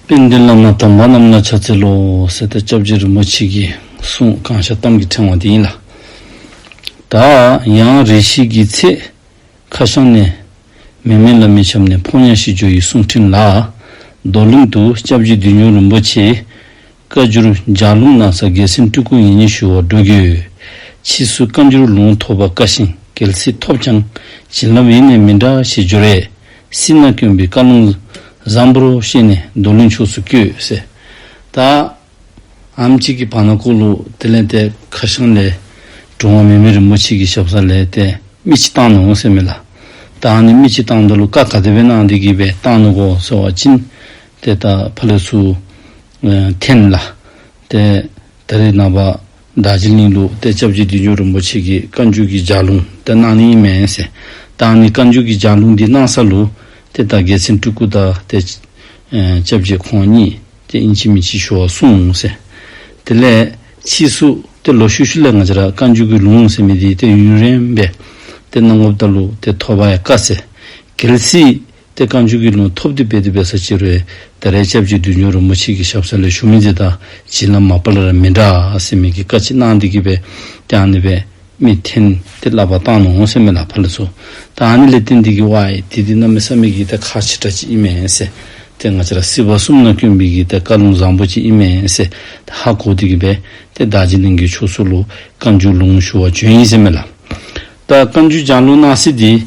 དཔལ་ལྡན་བླ་མ་དམ་པ་རྣམས་ལ་ཕྱག་འཚལ་ལོ། གསེར་རྟ་ལྕགས་ཀྱི་རིན་པོ་ཆེ་གི་གསུང་བསྐང་ཞབས་གཏམ་གྱི་ཕྲེང་བ་འདི་ཡིན་ལ། ད་ཡང་རེ་ཞིག་གི་ཚེ། ཁ་ཤང་ནས། མི་མེད་ལ་མི་ཆབ་ནས་ཕོ་ཉ་ཤི་འཇོ་ཡི་གསུང་ཕྲིན་ལ། རྡོར་གླིང་དུ་སྐྱབས་རྗེ་བདུད་འཇོམས་རིན་པོ་ཆེའི། བཀའ་འགྱུར་ལྗགས་ལུང་ན་ཚ་རྒྱལ་སྲིད་སྤྲུལ་སྐུ་ཉིད་ཉི་ཤུ་བར་འགྲོ་རྒྱུ། ཕྱིས་སུ་བཀའ་འགྱུར་ལུང་ཐོགས་པ་བཀའ་བཞིན་རྒྱལ་སྲིད་ཐོབ་ཀྱང། བྱིན་རླབས་ཡེ་ནས་མི་འདྲ་ཞེས་བརྗོད། རས་སྲིད་ན་བསྐྱོན་པའི་བཀའ་ལུང། བཟང་པོར་ཤེས་ནས་མདོ་ལུང་ཕྱོགས་སུ་བསྐྱོད། ཟེར། དྭགས། ཨམ་གཅིག་གི་བར་ན་བཀོད་ལུགས་དེ་ལས་འདས། ཁ་བྱང་ལས། འབྲོང་བ་མི་མེད་རིན་པོ་ཆེ་གི་ཞབས་ས་ལས་འདས་མི་ཅི་བཏང་ནུས་འོང་ཟེར་མེད་ལ། བདག་ནི་མི་ཅི་བཏང་འདོད་ལུགས་བཀའ་ག་དེ་བས་གནང་འདི་གི་བས་བཏང་ནུས་གོ་ཟེར་བ་ཅི། དེ་དག་ཕ་ལོས་སུ་འཐེན་ལ། དེ་ད་རེས་ནང་པ་དག་ཅི་གླིང་ལུགས་དེ་སྐྱབས་རྗེ་བདུད་འཇོམས་རིན་པོ་ཆེ་གིས་བཀའ་འགྱུར་གྱི་ལྗགས་ལུང་དེ་གནང་ནི་ཡིན་མིན་ཟེར། བདག་ནི་བཀའ་འགྱུར་གྱི་ལྗགས་ལུང་འདི་གནང་ས་ལུགས་དེ་དག་རྒྱལ་མཚན་སྤྲུལ་སྐུ་དག་དེ་སྐྱབས་རྗེ་ཁོང་ཉིད་ཀྱི་དབྱིན་ཇི་མི་ཇི་ཞུ་བ་གསུངས་ཟེར། དེ་ལས་ཕྱིས་སུ་དེ་ལོ་ཤུ་ཤུ་ལས་ང་ཅི་ར་བཀའ་འགྱུར་གྱི་ལུང་ཟེར་མི་དེ་ཡུན་རིང་བས་དེ་གནང་ངོ་བལྟ་ལུགས་དེ་ཐོ་བ་ཡ་བཀའ་སེ་གལ་སྲིད། ཏེ་བཀའ་འགྱུར་གྱི་ལུང་ཐོབ་འདི་དཔེ་དེ་བས་ས་སྤྱིར་བས་ད་རའི་སྐྱབས་ཀྱི་དུས་འབྱུང་རོལ་མོ་ཕྱིས་ཀྱི་ཞབས་ས་ལས་ཞུ་མི་འདི་དང་བྱིན་རླབས་མ་སྤར་ར་མི་འདྲ་སེ་མིག་གི་བཀའ་ཅི་གནང་འདི་གི་བས་ཀྱང་ནི་བས་མི་འཐེན་ཏེ་བསླབ་པ་བཏང་ནོ་སེ་མི་ལ་ཕར་ལ་ཚུ་དང་ནི་ལས་ཏེ་འདི་གི་བས་དེ་དེ་རྣམས་མི་ས་མིག་གི་ཏེ་ཁ་ཆེ་ཁྲ་ཅི་ཨི་མས་སེ་ཏེ་ང་ཅི་ར་སི་བ་སུམ་ན་ཀྱོན་མིག་གི་ཏེ་བཀའ་ལུང་བཟང་པོ་ཅི་ཨི་མས་སེ་ཏེ་ཧ་གོ་འདི་གི་བས་ཏེ་བདག་ཅི་གླིང་གི་ཕྱོགས་སུ་ལུ་བཀའ་འགྱུར་ལུང་ཞུ་བ་བྱོན་ཡིན་སེ་མི་ལ་ད་བཀའ་འགྱུར་ཅང་ལུ་གནང་སེ་འདི།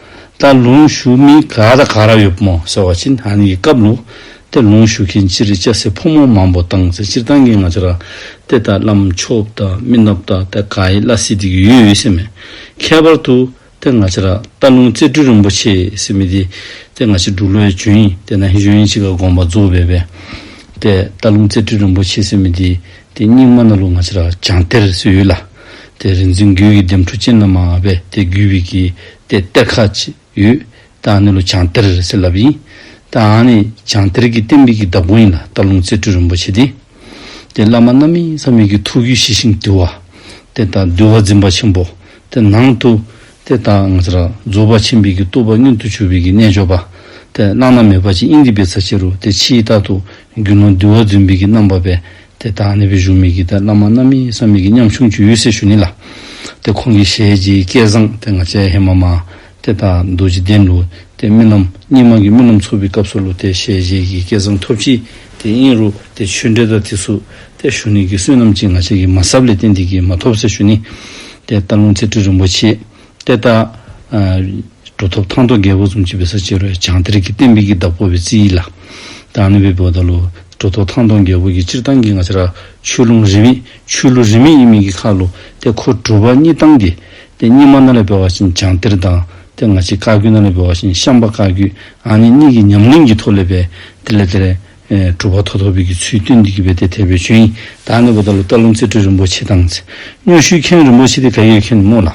ད་ལུང་བཞུགས་མི་ག་ད་ག་ར་ཡོད་མོ་ཟེར་བ་ཅིན་ཧན་ཡི་སྐབས་ལུགས་དེར་ལུང་བཞུགས་མཁན་སྤྱིར་སྐྱ་སེར་ཕོ་མོ་མང་པོ་དང་ཚེ་སྤྱིར་བཏང་གི་ང་ཚོ་ར་སྟེ་དང་བླ་མཆོག་དང་སྨི་ནག་ད་ད་ག་ཡི་བླ་སེ་འདི་གི་ཡུལ་ཡོད་ཤེས་མེད། ཁྱད་པར་དུ་དེ་ང་ཚོ་ར་སྟ་ལུང་རྩེ་སྤྲུལ་རིན་པོ་ཆེ་ཟེར་མི་དེ་དེ་ང་ཚོའི་འབྲུག་ལོའི་ཇོན་ཡིན་དེ་ན་ཧི་ཇོན་ཡིན་ཅི་ག་དགོངས་པ་རྫོགས་བས་བས་ཏེ་སྟ་ལུང་རྩེ་སྤྲུལ་རིན་པོ་ཆེ་ཟེར་མི་དེ་དེ་རྙིང་མ་ན་ལུགས་ང་ཚོ་ར་བྱང་གཏེར་སུ་ཡོད་ལ། དེ་རིག་འཛིན་རྒྱུད་ཀྱི་ལྡེམ་འཕྲུ་ཅན་ལ་མ་ང་བས་དེ་རྒྱུད་བི་གི་སྟེ་གཏེར་ཁ་ཅིག་ཡོད། རྟགས་ནི་ལོ་བྱང་གཏེར་ཟེར་ལབ་ཡིན། རྟགས་ནི་བྱང་གཏེར་གྱི་གཏེར་འབིག་གི་བདག་པོ་ཡིན་ལ་སྟག་ལུང་རྩེ་སྤྲུལ་རིན་པོ་ཆེ་སྟེ། དེ་བླ་མ་རྣམ་གཡེང་ས་མིག་གི་ཐུགས་རྒྱུད་ཞི་ཞིང་དུལ་བ། དེ་དང་འདུལ་བ་འཛིན་པ་ཆེན་པོ། དེ་ནང་དུ། དེ་དང་ང་ཚར་རྫོགས་པ་ཆེན་འབིག་གི་བཏུ་བ་སྙུན་དུ་ཆུ་བི་གི་རྣལ་འབྱོར་པ། དེ་བླངས་ན་མེད་པ་ཅིག་དབྱིངས་རིག་པའི་ཚ་ཆེ་རུ་དེ་ཕྱིའི་རྟགས་དུ་འགྱུར་ན་འདུལ་བ་རྫུན་འབིག་གི་རྣམ་པ་བས། དེ་དག་ནི་བོད་གཞུང་མི་དགེ་དར་བླ་མ་རྣམ་གཉིས་སམ་མི་དགེ་མཉམ་ཆུང་གྱི་གཡུལ་སའི་གཞུང་ནི་ལ། དེ་ཁོང་གི་ཞལ་གྱི་སྐད་བཟང་དེ་ང་ཅའི་ཧེ་མ་མ། དེ་དག་རྡོ་རྗེ་གདན་ལུ་དེ་རྨི་ལམ་སྙིང་མ་གི་རྨི་ལམ་ཚོགས་པའི་སྐབས་སུ་ལུ་དེ་ཞལ་གྱི་གི་སྐད་བཟང་ཐོབ་ཅིག་དེ་དབྱིངས་རུ་དེ་ཆོས་འབྲེལ་དར་ཐིག་སུག་དེ་གཞུང་ནི་གི་བསོད་ནམས་ཀྱི་ང་ཅ་གི་མ་ཟབ་ལས་ཏེ་འདི་གི་མ་ཐོབ་སའི་གཞུང་ནི། དེ་ལྟར་ལུང་ཚིག་ཁྲི་རིན་པོ་ཆེ། ལྟས་བརྟག། འགྲོ་ཐོབ་ཐང་ཐོག་རྒྱལ་པོ་གསུམ་གྱི་བི་ས་ཅེར་བའི་བྱང་གཏེར་གྱི་གཏན་དཔེ་གྱི་བདག་པོ་བི་ཙི་ཡིད་ལ། བདག་ནི་བི་བོ་ད་ལོ། འགྲོ་ཐོབ་ཐང་ཐོག་རྒྱལ་པོ་གྱི་སྤྱིར་བཏང་གི་ང་ཆ་ར། ཆོས་ལུང་རིས་མེད། ཆོས་ལུགས་རིས་མེད་ཡིན་མིན་གྱི་ཁ་ལོ། ལྟས་ཁོ་སྒྲུབ་པ་གཉིས་བཏང་སྟེ། ལྟས་གཉིས་མ་ན་ལས་བོས་བ་བཞིན་བྱང་གཏེར་དང། ལྟས་ང་གཅིག་བཀའ་བརྒྱུད་ན་ལས་བོས་བ་བཞིན་ཤངས་པ་བཀའ་བརྒྱུད། ཨ་ནི་གཉིས་ཀྱི་ཉམས་ལེན་གྱི་ཐོག་ལས་བས། དེ་ལས་དེ། སྒྲུབ་པ་ཐོག་ཐོག་བོད་ཀྱི་ཚུལ་སྟོན་འདི་གི་བོད་སྡེ་དེ་བོད་ཆོས་ཡིན། བདག་ནི་བོ་ད་ལོ་སྟག་ལུང་རྩེ་སྤྲུལ་རིན་པོ་ཆེ་དང། སྙུན་ཤུལ་མཁན་རིན་པོ་ཆེ་དེ་ག་ཡོད་མཁན་སྨོས་ལ།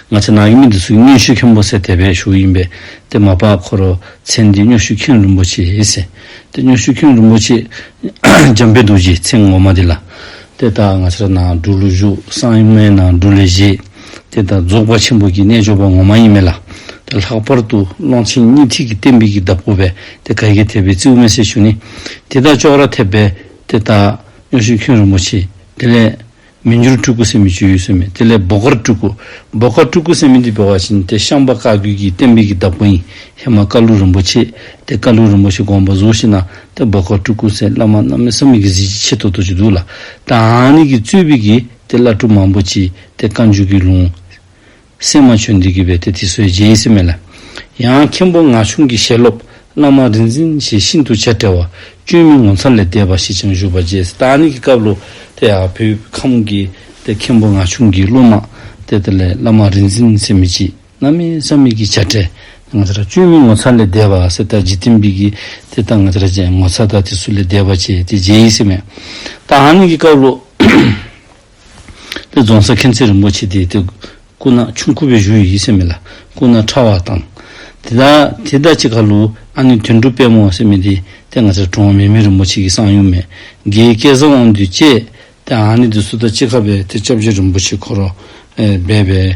ང་ཚེ་ནག་གི་མི་འདི་ཚོ་གི་སྙུན་ཤུལ་མཁན་པོ་ཟེར་དད་པའི་ཞུགས་ཡིན་པས་དེ་མ་བག་ཁོ་རོ་ཚེ་འདི་སྙུན་ཤུལ་མཁན་རིན་པོ་ཆེ་ཟེར། དེ་སྙུན་ཤུལ་མཁན་རིན་པོ་ཆེ་འཇམ་དཔལ་རྡོ་རྗེ་ཚེ་ངོ་མ་དེ་ལ། དེ་ལྟར་ང་ཚེ་ར་ནང་སྒྲུབ་ལུགས་བཞུགས་སངས་ཡུམ་མའི་ནང་སྒྲུབ་ལས་བཞེས། དེ་ལྟར་རྫོགས་པ་ཆེན་པོ་ཀྱི་རྣལ་འབྱོར་པ་ངོ་མ་ཡིན་མིན་ལ། དེ་ལྷག་པར་དུ་ཀློང་ཆེན་གཉིས་ཐིག་གི་གཏན་དཔེ་གྱི་གདབ་སྒོ་བས་དེ་ག་གེ་ཐེབས་པའི་རྩིའུ་མེ་སྲེག་ཆུ་ནི། དེ་དག་ཅོག་ར་ཐེབས་པས་དེ་དག། སྨྱོ་ཤིང་ཁྱུང་རིན་པོ་ཆེ་དེ་ལས། མི་འགྱུར་སྤྲུལ་སྐུ་སེམས་མི་སྤྱོད་ཡུལ་སོན་མེད་དེ་ལས་སྦོ་དཀར་སྤྲུལ་སྐུ། སྦོ་དཀར་སྤྲུལ་སྐུ་སེམས་མི་འདི་སྦེ་བ་བཞིན་དེ་ཤངས་པ་བཀའ་བརྒྱུད་ཀྱི་གཏན་དཔེ་གྱི་གདབ་སྒོ་ཡིན་ཧེ་མ་ཀ་ལུ་རིན་པོ་ཆེ་དེ་བཀའ་ལུ་རིན་པོ་ཆེ་དགོངས་པ་གཟུགས་བཞི་ན་དེ་སྦོ་དཀར་སྤྲུལ་སྐུ་སེ་བླ་མ་རྣམ་སྨིན་བསམ་མེད་ཀྱི་གཟི་བརྗིད་ཆེ་ཐོག་ཐོག་ཅིག་འདུག་ལ། དང་ནི་གི་གཙོས་བི་གི་དེ་བླ་སྤྲུལ་མང་པོ་ཅི། དེ་བཀའ་འཇུག་གི་ལུང། སེམས་མ་ཆོས་འདི་གུས་པས་དེ་དེ་སོའི་རྗེ་ཡིས་སེམས་མེད་ལ། ཡང་མཁན་པོ་ངག་ཆུང་གི་ཞལ་སློབ། བླ་མ་རིག་འཛིན་ཞེས་ཤིན་ཏུ་བྱ་བྲལ་བ། བཅོས་མིན་ངོ་མཚར་ལས་འདས་པ་ཞེས་ཀྱང་བཞུགས་པ་རྗེ་སི་ཏཱ་ནི་གི་སྐབས་ལོ། དེ་ཡང་བོད་ཁམས་ཀྱི་དེ་མཁན་པོ་ངག་ཆུང་གི་སློབ་མ། དེ་དེ་ལས་བླ་མ་རིག་འཛིན་སེམས་མེད་ཀྱིས་རྣམ་སྨིན་བསམ་མེད་ཀྱི་བྱ་བྲལ། དེ་ངོ་མཚར་བཅོས་མིན་ངོ་མཚར་ལས་འདས་པ་སི་ཏཱ་རྗེ་བསྟན་འཕེལ་གྱིས་དེ་ལྟ་ངོ་མཚར་ཅན་ངོ་མཚར་དག་དེ་སུ་ལས་འདས་པ་བྱས་དེ་རྗེ་ཡིས་སེམས་མེད། ཏཱ་ནི་གི་སྐབས་ལོ། དེ་རྫོང་སར་མཁན་ཆེན་རིན་པོ་ཆེ་དེའི་དེ་སྐུ་ན་ཆུང་ཁུ་བའི་བཞུགས་ཡུལ་ཡིད་སེམས་མེད་ལ་སྐུ་ན་ཕྲ་བ་དང། དེ་དག་དེ་ད་ཅི་ཁ་ལུ་ཨ་ནི་དོན་གྲུབ་དཔལ་མོ་ཟེར་མི་དེ་དེ་ང་ཚའི་གྲོང་བ་མེ་མི་རིན་པོ་ཆེ་ཀྱི་སང་ཡུམ་མེ་དགེའི་སྐལ་བཟང་དབང་འདུས་བཅས་དེ་ཨ་ནི་དེ་སུ་ད་ཅི་ཁ་བས་དེ་སྐྱབས་རྗེ་རིན་པོ་ཆེ་འཁོར་རོ་སྦས་པའི།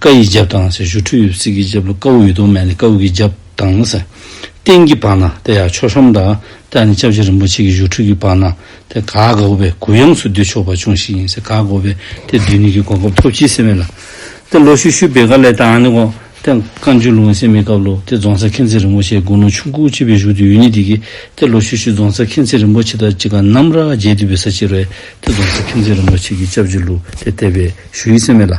ཀ་ཡི་རྒྱབ་དང། ཞུ་ཁྲུས་ཡོད་ཚིག་གི་རྒྱབ་ལ་ཀ་འུ་ཡི་གདོང་སྨད་ནས་ཀ་འུ་གི་རྒྱབ་དང། སྟེང་གི་བར་ན་དེ་ཡང་ཆོས་ཧྲོམ་དང། དེ་ཡང་ནི་ལྕགས་བྱི་རིན་པོ་ཆེ་གི་ཞུ་ཁྲུས་ཀྱི་བར་ན་དེ་ག་ག་འུ་བས་གུ་ཡངས་སུ་བསྡུས་ཆོག་པ་ཅུང་ཞིག་ཡིན་ཟེར་ག་ག་འུ་བས་དེ་བསྡུས་ནས་ཀྱི་གོ་སྐབས་ཐོབ་ཕྱིས་སེམས་མེད་ལ། དེ་ལོ་ཤུ་ཤུ་བེ་ག་ལས་དང་ནི་གོ། དེ་བཀའ་འཇུག་ལུང་སེང་མེད་སྐབས་ལོ་དེ་རྫོང་སར་མཁྱེན་བརྩེ་རིན་པོ་ཆེའི་དགུང་ལོ་ཆུང་ཁུག་གཅིག་པའི་བཞུགས་དུས་ཡུལ་ནི་དེ་གི། དེ་ལོ་ཤུ་ཤུ་རྫོང་སར་མཁྱེན་བརྩེ་རིན་པོ་ཆེ་དང་གཅིག་ག་ནམ་ར་རྒྱལ་འདུས་པའི་ས་ཕྱིར་བས་དེ་རྫོང་སར་མཁྱེན་བརྩེ་རིན་པོ་ཆེ་གི་ལྕགས་བྱི་ལུ་དེ་དད་པས་ཞུ་ཡི་སེམས་མེད་ལ།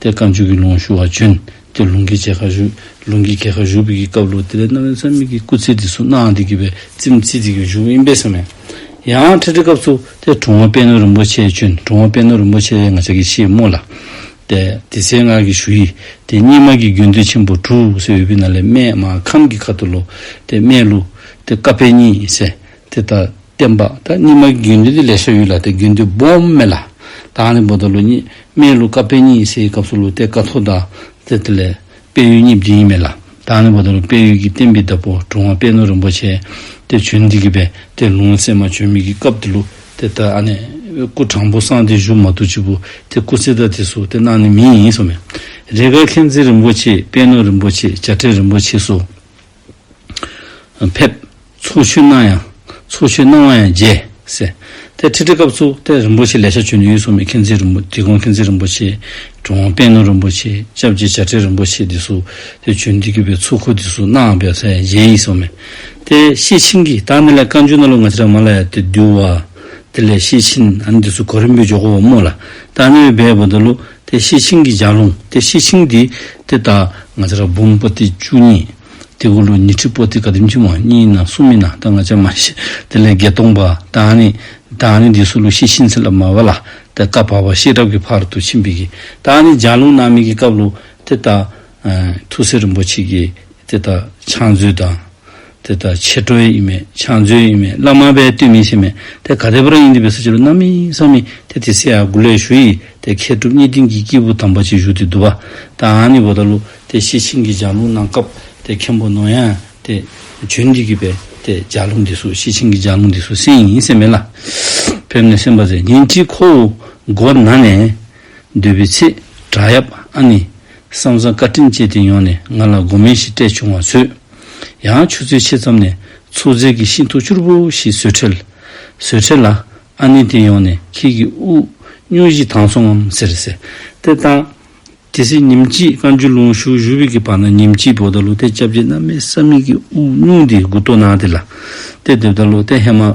དེ་བཀའ་མཆོད་ཀྱི་ལུང་ཞུ་བ་བྱོན། དེ་ལུང་གི་རྗེས་ཁ་བཞུགས། ལུང་གི་རྒྱལ་ཁ་བཞུགས་པའི་སྐབས་ལུགས་དེ་ལས་རྣམ་གཡེང་ཚད་མེད་ཀྱི་སྐུ་ཚེ་འདི་སོ་ནའང་འདི་དགོས་པའི་ཚིམ་བསྐྱིལ་བྱེད་ཀྱི་བཞུགས་ཨིན་པས་སེམས་མེད། ཡང་ཁྲི་ཁྲི་སྐབས་སུ་དེ་གྲོང་བ་དཔལ་ནོར་རིན་པོ་ཆེས་བྱོན་གྲོང་བ་དཔལ་ནོར་རིན་པོ་ཆེ་ལས་ང་ཅག་གི་ཆེད་དམོད་ལ། དེ་དེ་སའི་སྔགས་ཀྱི་ཞུ་ཡིག་དེ་སྙེ་མ་གི་རྒྱུན་མཐུད་ཆེན་པོ་གྲུ་སེ་འོད་པི་ན་ལས་སྨད་མ་ཁམས་ཀྱི་ཁ་ཏུ་ལོ་དེ་སྨད་ལུགས་དེ་བཀའ་ཕེབས་གཉིས་སེ་དེ་དག་བསྟན་པ། ད་སྙིགས་མ་རྒྱུད་འདི་དེ་ལས་ཤར་ཡོད་ལ་དེ་རྒྱུད་འདི་བོམ་སྨད་ལ། དྭགས་ནས་བོ་ད་ལོ་གཉིས་སྨད་ལུགས་བཀའ་བེ་གཉིས་སའི་སྐབས་སུ་ལུགས་དེ་བཀའ་ཐོ་དང་ཟེར་དེ་ལས། བེ་ཡུལ་གཉིས་བརྒྱུད་ཡིན་མེད་ལ། དྭགས་ནས་བོ་ད་ལོ་བེ་ཡུལ་གྱི་བསྟན་པའི་བདག་པོ་གྲུང་བ་པད་ནོར་རིན་པོ་ཆེ། དེ་བྱོན་འདི་གི་བས་དེ་ལུང་ཚད་མ་བྱོན་མི་གི་སྐབས་དེ་ལུགས་དེ་ད་ཨ་ནས། སྐུ་དྲང་པོ་སངས་དེ་བཞུགས་མ་ཐུག་གཅིག་པུ་དེ་སྐུ་ཚེ་ད་དེ་སུ་དེ་གནང་ནི་མི་ཡིན་སོ་མེད། རེ་འགའ་མཁྱེན་བརྩེ་རིན་པོ་ཆེ་པད་ནོར་རིན་པོ་ཆེ་བྱ་བྲལ་རིན་པོ་ཆེ་སོགས། ཕེབས། ཚོགས་མཆོད་གནང་ཡང། ཚོགས་མཆོད་གནང་བ་ཡང་རྗེ། སེ། དེ་ཁྲི་ཁྲི་སྐབས་སུ་དེ་རིན་པོ་ཆེ་ལས་ཤ་ཆོད་ནས་ཡུལ་སོག་མའི་མཁྱེན་བརྩེ་རིན་པོ་ཆེ་ཀོང་མཁྱེན་བརྩེ་རིན་པོ་ཆེ། གྲོང་དབང་དཔལ་ནོར་རིན་པོ་ཆེ་ཅབ་རྗེ་བྱ་བྲལ་རིན་པོ་ཆེ་འདི་སུ། དེ་བྱོན་འདི་བརྒྱུད་པའི་ཚོགས་འཁོར་འདི་སུ་གནང་ཡང་ཕེབས། རྗེ་ཡིད་སོག་མས། དེ་ཤེས་ཕྱིན་གྱིས་བདག་ནི་ལས་བཀའ་འགྱུར་གནང་ལུགས་ང་ཅི་རང་མ་ལ་ཡང་དེ་འདུལ་བ། དེ་ལས་ཤེས་ཕྱིན་ཨ་ནི་འདི་སུ་གོ་རིན་པོའི་ཇོ་གོ་བ་རྨོ་ལ་བདག་ནི་འོས་འབད་བོ་འདུལ་ལུགས། དེ་ཤེས་ཕྱིན་གྱི་ལྗགས་ལུང་དེ་ཤེས་ཕྱིན་འདི་དེ་ལྟ། ང་ཅག་འབུམ་པོ་ཏི་བཅུ་གཉིས། དེ་ཀུན་ལུགས་ཉི་ཁྲི་པོ་ཏི་ག་དུས་འཆིང་བ་གཉིས་ཡིན་ན་གསུམ་ཡིན་ན་ད་ང་ཅག་མ་ཤེས་དེ་ལས་བརྒྱད་སྟོང་པ་དང་ནི། དང་ནི་འདི་སོགས་ལུགས་ཤེས་ཕྱིན་ཚེ་ལ་མ་བ་ལ་དེ་སྐབས་བར་བ་ཤེས་རབ་ཀྱི་བར་དུ་ཕྱིན་པའི་གི། དང་ནི་ལྗགས་ལུང་རྣམ་སྨིན་གྱི་སྐབས་ལུགས་དེ་ལྟ། ཐུགས་སྲས་རིན་པོ་ཆེ་ཀྱིས་དེ་དག་ཕྱག་མཛོད་དང། དེ་དག་ཕྱི་དྲོ་ཡིན་མིན་ཕྱག་མཛོད་ཡིན་མིན་བླ་མ་པའི་བསྟོད་མིན་ཤེས་མེད་དེ་ག་དེ་པོ་རང་ཡིན་འདི་བས་སུ་ཅི་ལ་རྣམ་སྨིན་བསམ་སྨིན་དེ་དེ་སྲས་ཨ་གུ་ལས་ཞུ་ཡིས་དེ་མཁས་གྲུབ་གཉིས་ལྡན་གྱི་སྐྱེས་བུ་དམ་པ་ཅིག་བཞུགས་ཏེ་འདུལ་བ་དང་ནི་བོ་ད་ལུ་དེ་ཤེས་ཕྱིན་གྱིས་ལྗགས་ལུང་གནང་སྐབས་དེ་མཁན་པོ་ནོ་ཡང་དེ་བྱོན་འདི་གི་བས་དེ་ལྗགས་ལུང་འདི་སུ་ཤེས་ཕྱིན་གྱིས་ལྗགས་ལུང་འདི་སུ་སེང་ཡིན་སེམས་མེད་ལ་ཕེབས་ནས་སེམས་པ་ཟད་ཉིན་གཅིག་ཁོ་བོ་སྒོ་ན་ནས་སྡོད་པའི་ཚེ་བྲག་ཡབ་ཨ་ནི། བསམ་བཟང་བཀའ་དྲིན་བཅས་དེ་ཡོང་ནས་ང་ལ་སྒོ་མེ་ཞིག་སྤྲད་བྱུང་བ་ཚོད། ཡང་ཆུ་ཚོད་ཕྱེད་ཙམ་ནས་ཚོད་རྫས་ཀྱི་ཤིང་ཐུ་ཕྱུར་བུ་ཞིག་བཟོས་ཁྲེལ། བཟོས་ཁྲེལ་ལ། ཨ་ནེ་དེ་ཡོང་ནས་ཁྱེད་ཀྱི་དབུགས་དབྱུང་གཞི་དྭངས་སོང་ངམ་ཟེར། ཟེར་ཏེ་བཏང། དེ་སྲིད་ཉིམ་གཅིག་བཀའ་འགྱུར་ལུང་ཞུ་བཞུགས་བྷི་གི་བར་ན་ཉིམ་གཅིག་བོ་ད་ལོ་ཏའི་སྐྱབས་རྗེ་རྣམ་སྨིན་ས་མིག་གི་དབུགས་དབྱུང་དེའི་དགུ་ཐོ་ནང་དེ་ལ། ཏའི་དེབ་ད་ལོ་ཏའི་ཧེ་མ།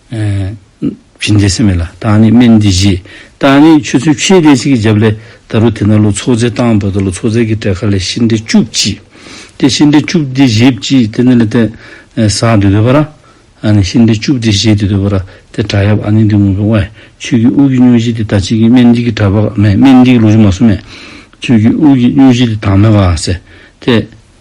བཞིན་འདས་སེམས་མེད་ལ་བརྟགས་ནས་སྨན་འདི་བཞེས། བརྟགས་ནས་ཆུ་ཚོད་ཕྱེད་བསྡད་ཕྱིས་ཀྱི་རྒྱབ་ལས། ད་རུ་དེ་ན་ལོ་ཚོགས་རྫས་བཏང་བ་དང་ལོ་ཚོགས་རྫས་ཀྱི་དྲེག་ཁ་ལས་ཤིང་འབྲས་བཅུ་གཅིག། དེ་ཤིང་འབྲས་བཅུ་འདི་བཞེས་བགྱིས་དེ་ནི་ལས་ཏེ། ཟག་འདི་འདོད་པ་ར། ཤིང་འབྲས་བཅུ་འདི་བཞེས་འདི་འདོད་པ་ར། དེ་དྲག་ཡབ་ཨ་ནི་འདི་ངུ་བའི་དབལ། ཆོས་ཀྱི་དབུགས་ཀྱི་སྙུན་གཞི་འདི་ད་ཅིག་གིས་སྨན་འདི་གི་དྲག་པ་མེད་སྨན་འདི་གི་ལུགས་ཀྱི་མ་སྲུ་མེད། ཆོས་ཀྱི་དབུགས་ཀྱི་སྙུན་གཞི་འདི་དྭངས་མའི་བ་སེ། དེ།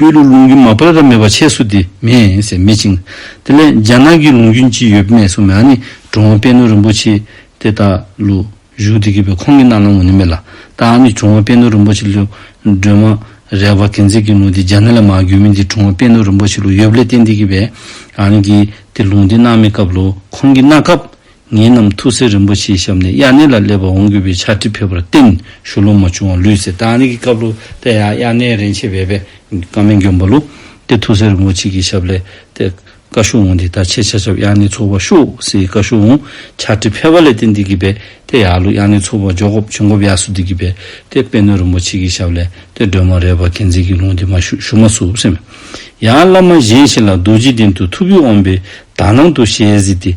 སྤོས་ལུགས་ལུང་རྒྱུན་མ་ཕར་ཁ་མེད་པ་ཆད་སུ་དེ་མེད་ཟེར་མི་བྱིངས། དེ་ལས་རྒྱ་ནག་གི་ལུང་རྒྱུན་ཅི་ཡོད་སྨྲས་སོ་མེད་ཨ་ནི་འགྲོ་འོང་པད་ནོར་རིན་པོ་ཆེ་དེ་དག་ལུག་གཞུག་དེ་གི་བའི་ཁོང་གི་རྣ་ལམ་ངོ་ནས་མེད་ལ་ད་ཨ་ནི་འགྲོ་འོང་པད་ནོར་རིན་པོ་ཆེ་ལུག་སྒྲོལ་མ་རལ་བ་གན་ཚིག་གི་ལུང་དེ་རྒྱ་ནག་ལ་མ་གྱུར་མིན་དེ་འགྲོ་འོང་པད་ནོར་རིན་པོ་ཆེ་ལུག་ཡོད་པ་ལས་བསྟན་དེ་གི་བའི་ཨ་ནི་གི་དེ་ལུང་དེ་རྣ་མེད་སྐབས་ལུག་ཁོང་གི་རྣ་ཁབ་ངེད་རྣམས་ཐུགས་སྲས་རིན་པོ་ཆེའི་ཞབས་ནས་དབྱར་གནས་ལ་སླེབས་པར་འོང་དགོས་པའི་ཕྱག་བྲིས་ཕུལ་བར་བརྟེན་ཞུ་ལོག་མ་བྱུང་བར་ལུས་ཟད། ད་ནི་གི་སྐབས་ལོ་དེ་ཡང་དབྱར་གནས་རིན་ཆེན་བས་པས་ཀ་མན་གྱོན་པ་ལུགས་ཏེ་ཐུགས་སྲས་རིན་པོ་ཆེ་གི་ཞབས་ལས་དེ་བཀའ་ཞུ་འོང་འདི་ལྟར་ཆེ་ཕྱག་ཞབས་དབྱར་གནས་ཚོགས་པར་ཞུགས་ཟེར་བཀའ་ཞུ་འོང་ཕྱག་བྲིས་ཕེབས་པ་ལས་དེ་འདི་གི་བས་དེ་ཡག་ལུགས་དབྱར་གནས་ཚོགས་པར་འཇོག་གོབ་བྱོན་གོབ་ཡག་སུ་འདི་གི་བས་དེ་དཔེ་སྣོད་རིན་པོ་ཆེ་གི་ཞབས་ལས་དེ་སྒྲོལ་མ་རས་པ་གན་ཚིག་གི་ལུང་འདི་མ་ཞུ་ཞུ་མ་ཟུག་སེམས། ཡང་བླ་མ་གཞན་ཞིག་ལ་རྡོ་རྗེ་གདན་དུ་ཐུགས་བུས་འོངས་པས་དག་སྣང་དུ་ཞལ་གཟིགས་ཏེ་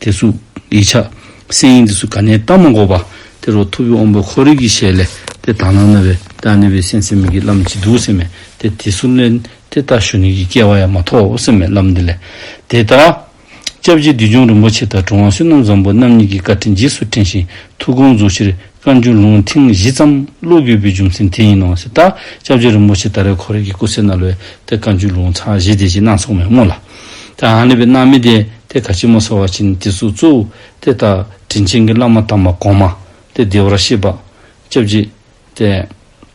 དེ་གཟུགས། ཡིད་ཆགས། སེམས་ཡིན་འདི་སུ་ག་ནས་བཏགས་མ་འགོག་པ། དེ་རུ་ཐུབ་ཡུལ་དབང་པོའི་འཁོར་རིགས་ཀྱི་ཞལ་ལས། དེ་དག་སྣང་ན་བས་ད་གནས་པའི་སེམས་སེམས་མིག་གི་ལམ་གྱིས་འདུག་སེམས་མེད་དེ་དེ་སུ་གནས། དེ་ལྟ་ཞུ་ནུས་ཀྱི་སྐལ་བ་ཡང་མ་ཐོབ་བོ་སེམས་མེད་ལམ་འདི་ལས། དེ་ལྟར། སྐྱབས་རྗེ་བདུད་འཇོམས་རིན་པོ་ཆེ་དང་གྲུབ་དབང་བསོད་ནམས་བཟང་པོ་རྣམ་གཉིས་ཀྱི་བཀའ་དྲིན་རྗེས་སུ་དྲན་ཞིང་ཐུགས་དགོངས་རྫོགས་ཕྱིར་བཀའ་འགྱུར་ལུང་ཐེངས་བཞི་ཙམ་ཀློག་དགོས་པའི་རྒྱུ་མཚན་དེ་ཡིན་ནོ་ཟེར། ད་སྐྱབས་རྗེ་རིན་པོ་ཆེ་ད་རེས་འཁོར་རིགས་ཀྱི་སྐུ་ཚེ་ན་ལོའི་ཐད་བཀའ་འགྱུར་ལུང་ཚར་བཞི་དེ་བཞིན་སྣ་ཚོགས་མེ་མོ་ལ། ཏེ། ཨ་ནི་བའི་རྣམ་སྨིན་ཏེ། དེ་ག་ཕྱི་མ་སོགས་བར་བྱེད་ནི་དེ་གཟུགས་གཙོ་བོ། དེ་ལྟར་དྲིན་ཆེན་གྱི་བླ་མ་དམ་པ་གོང་མ། དེ་བདེ་བར་གཤེགས་པ། སྐྱབས་གཅིག། ཏེ།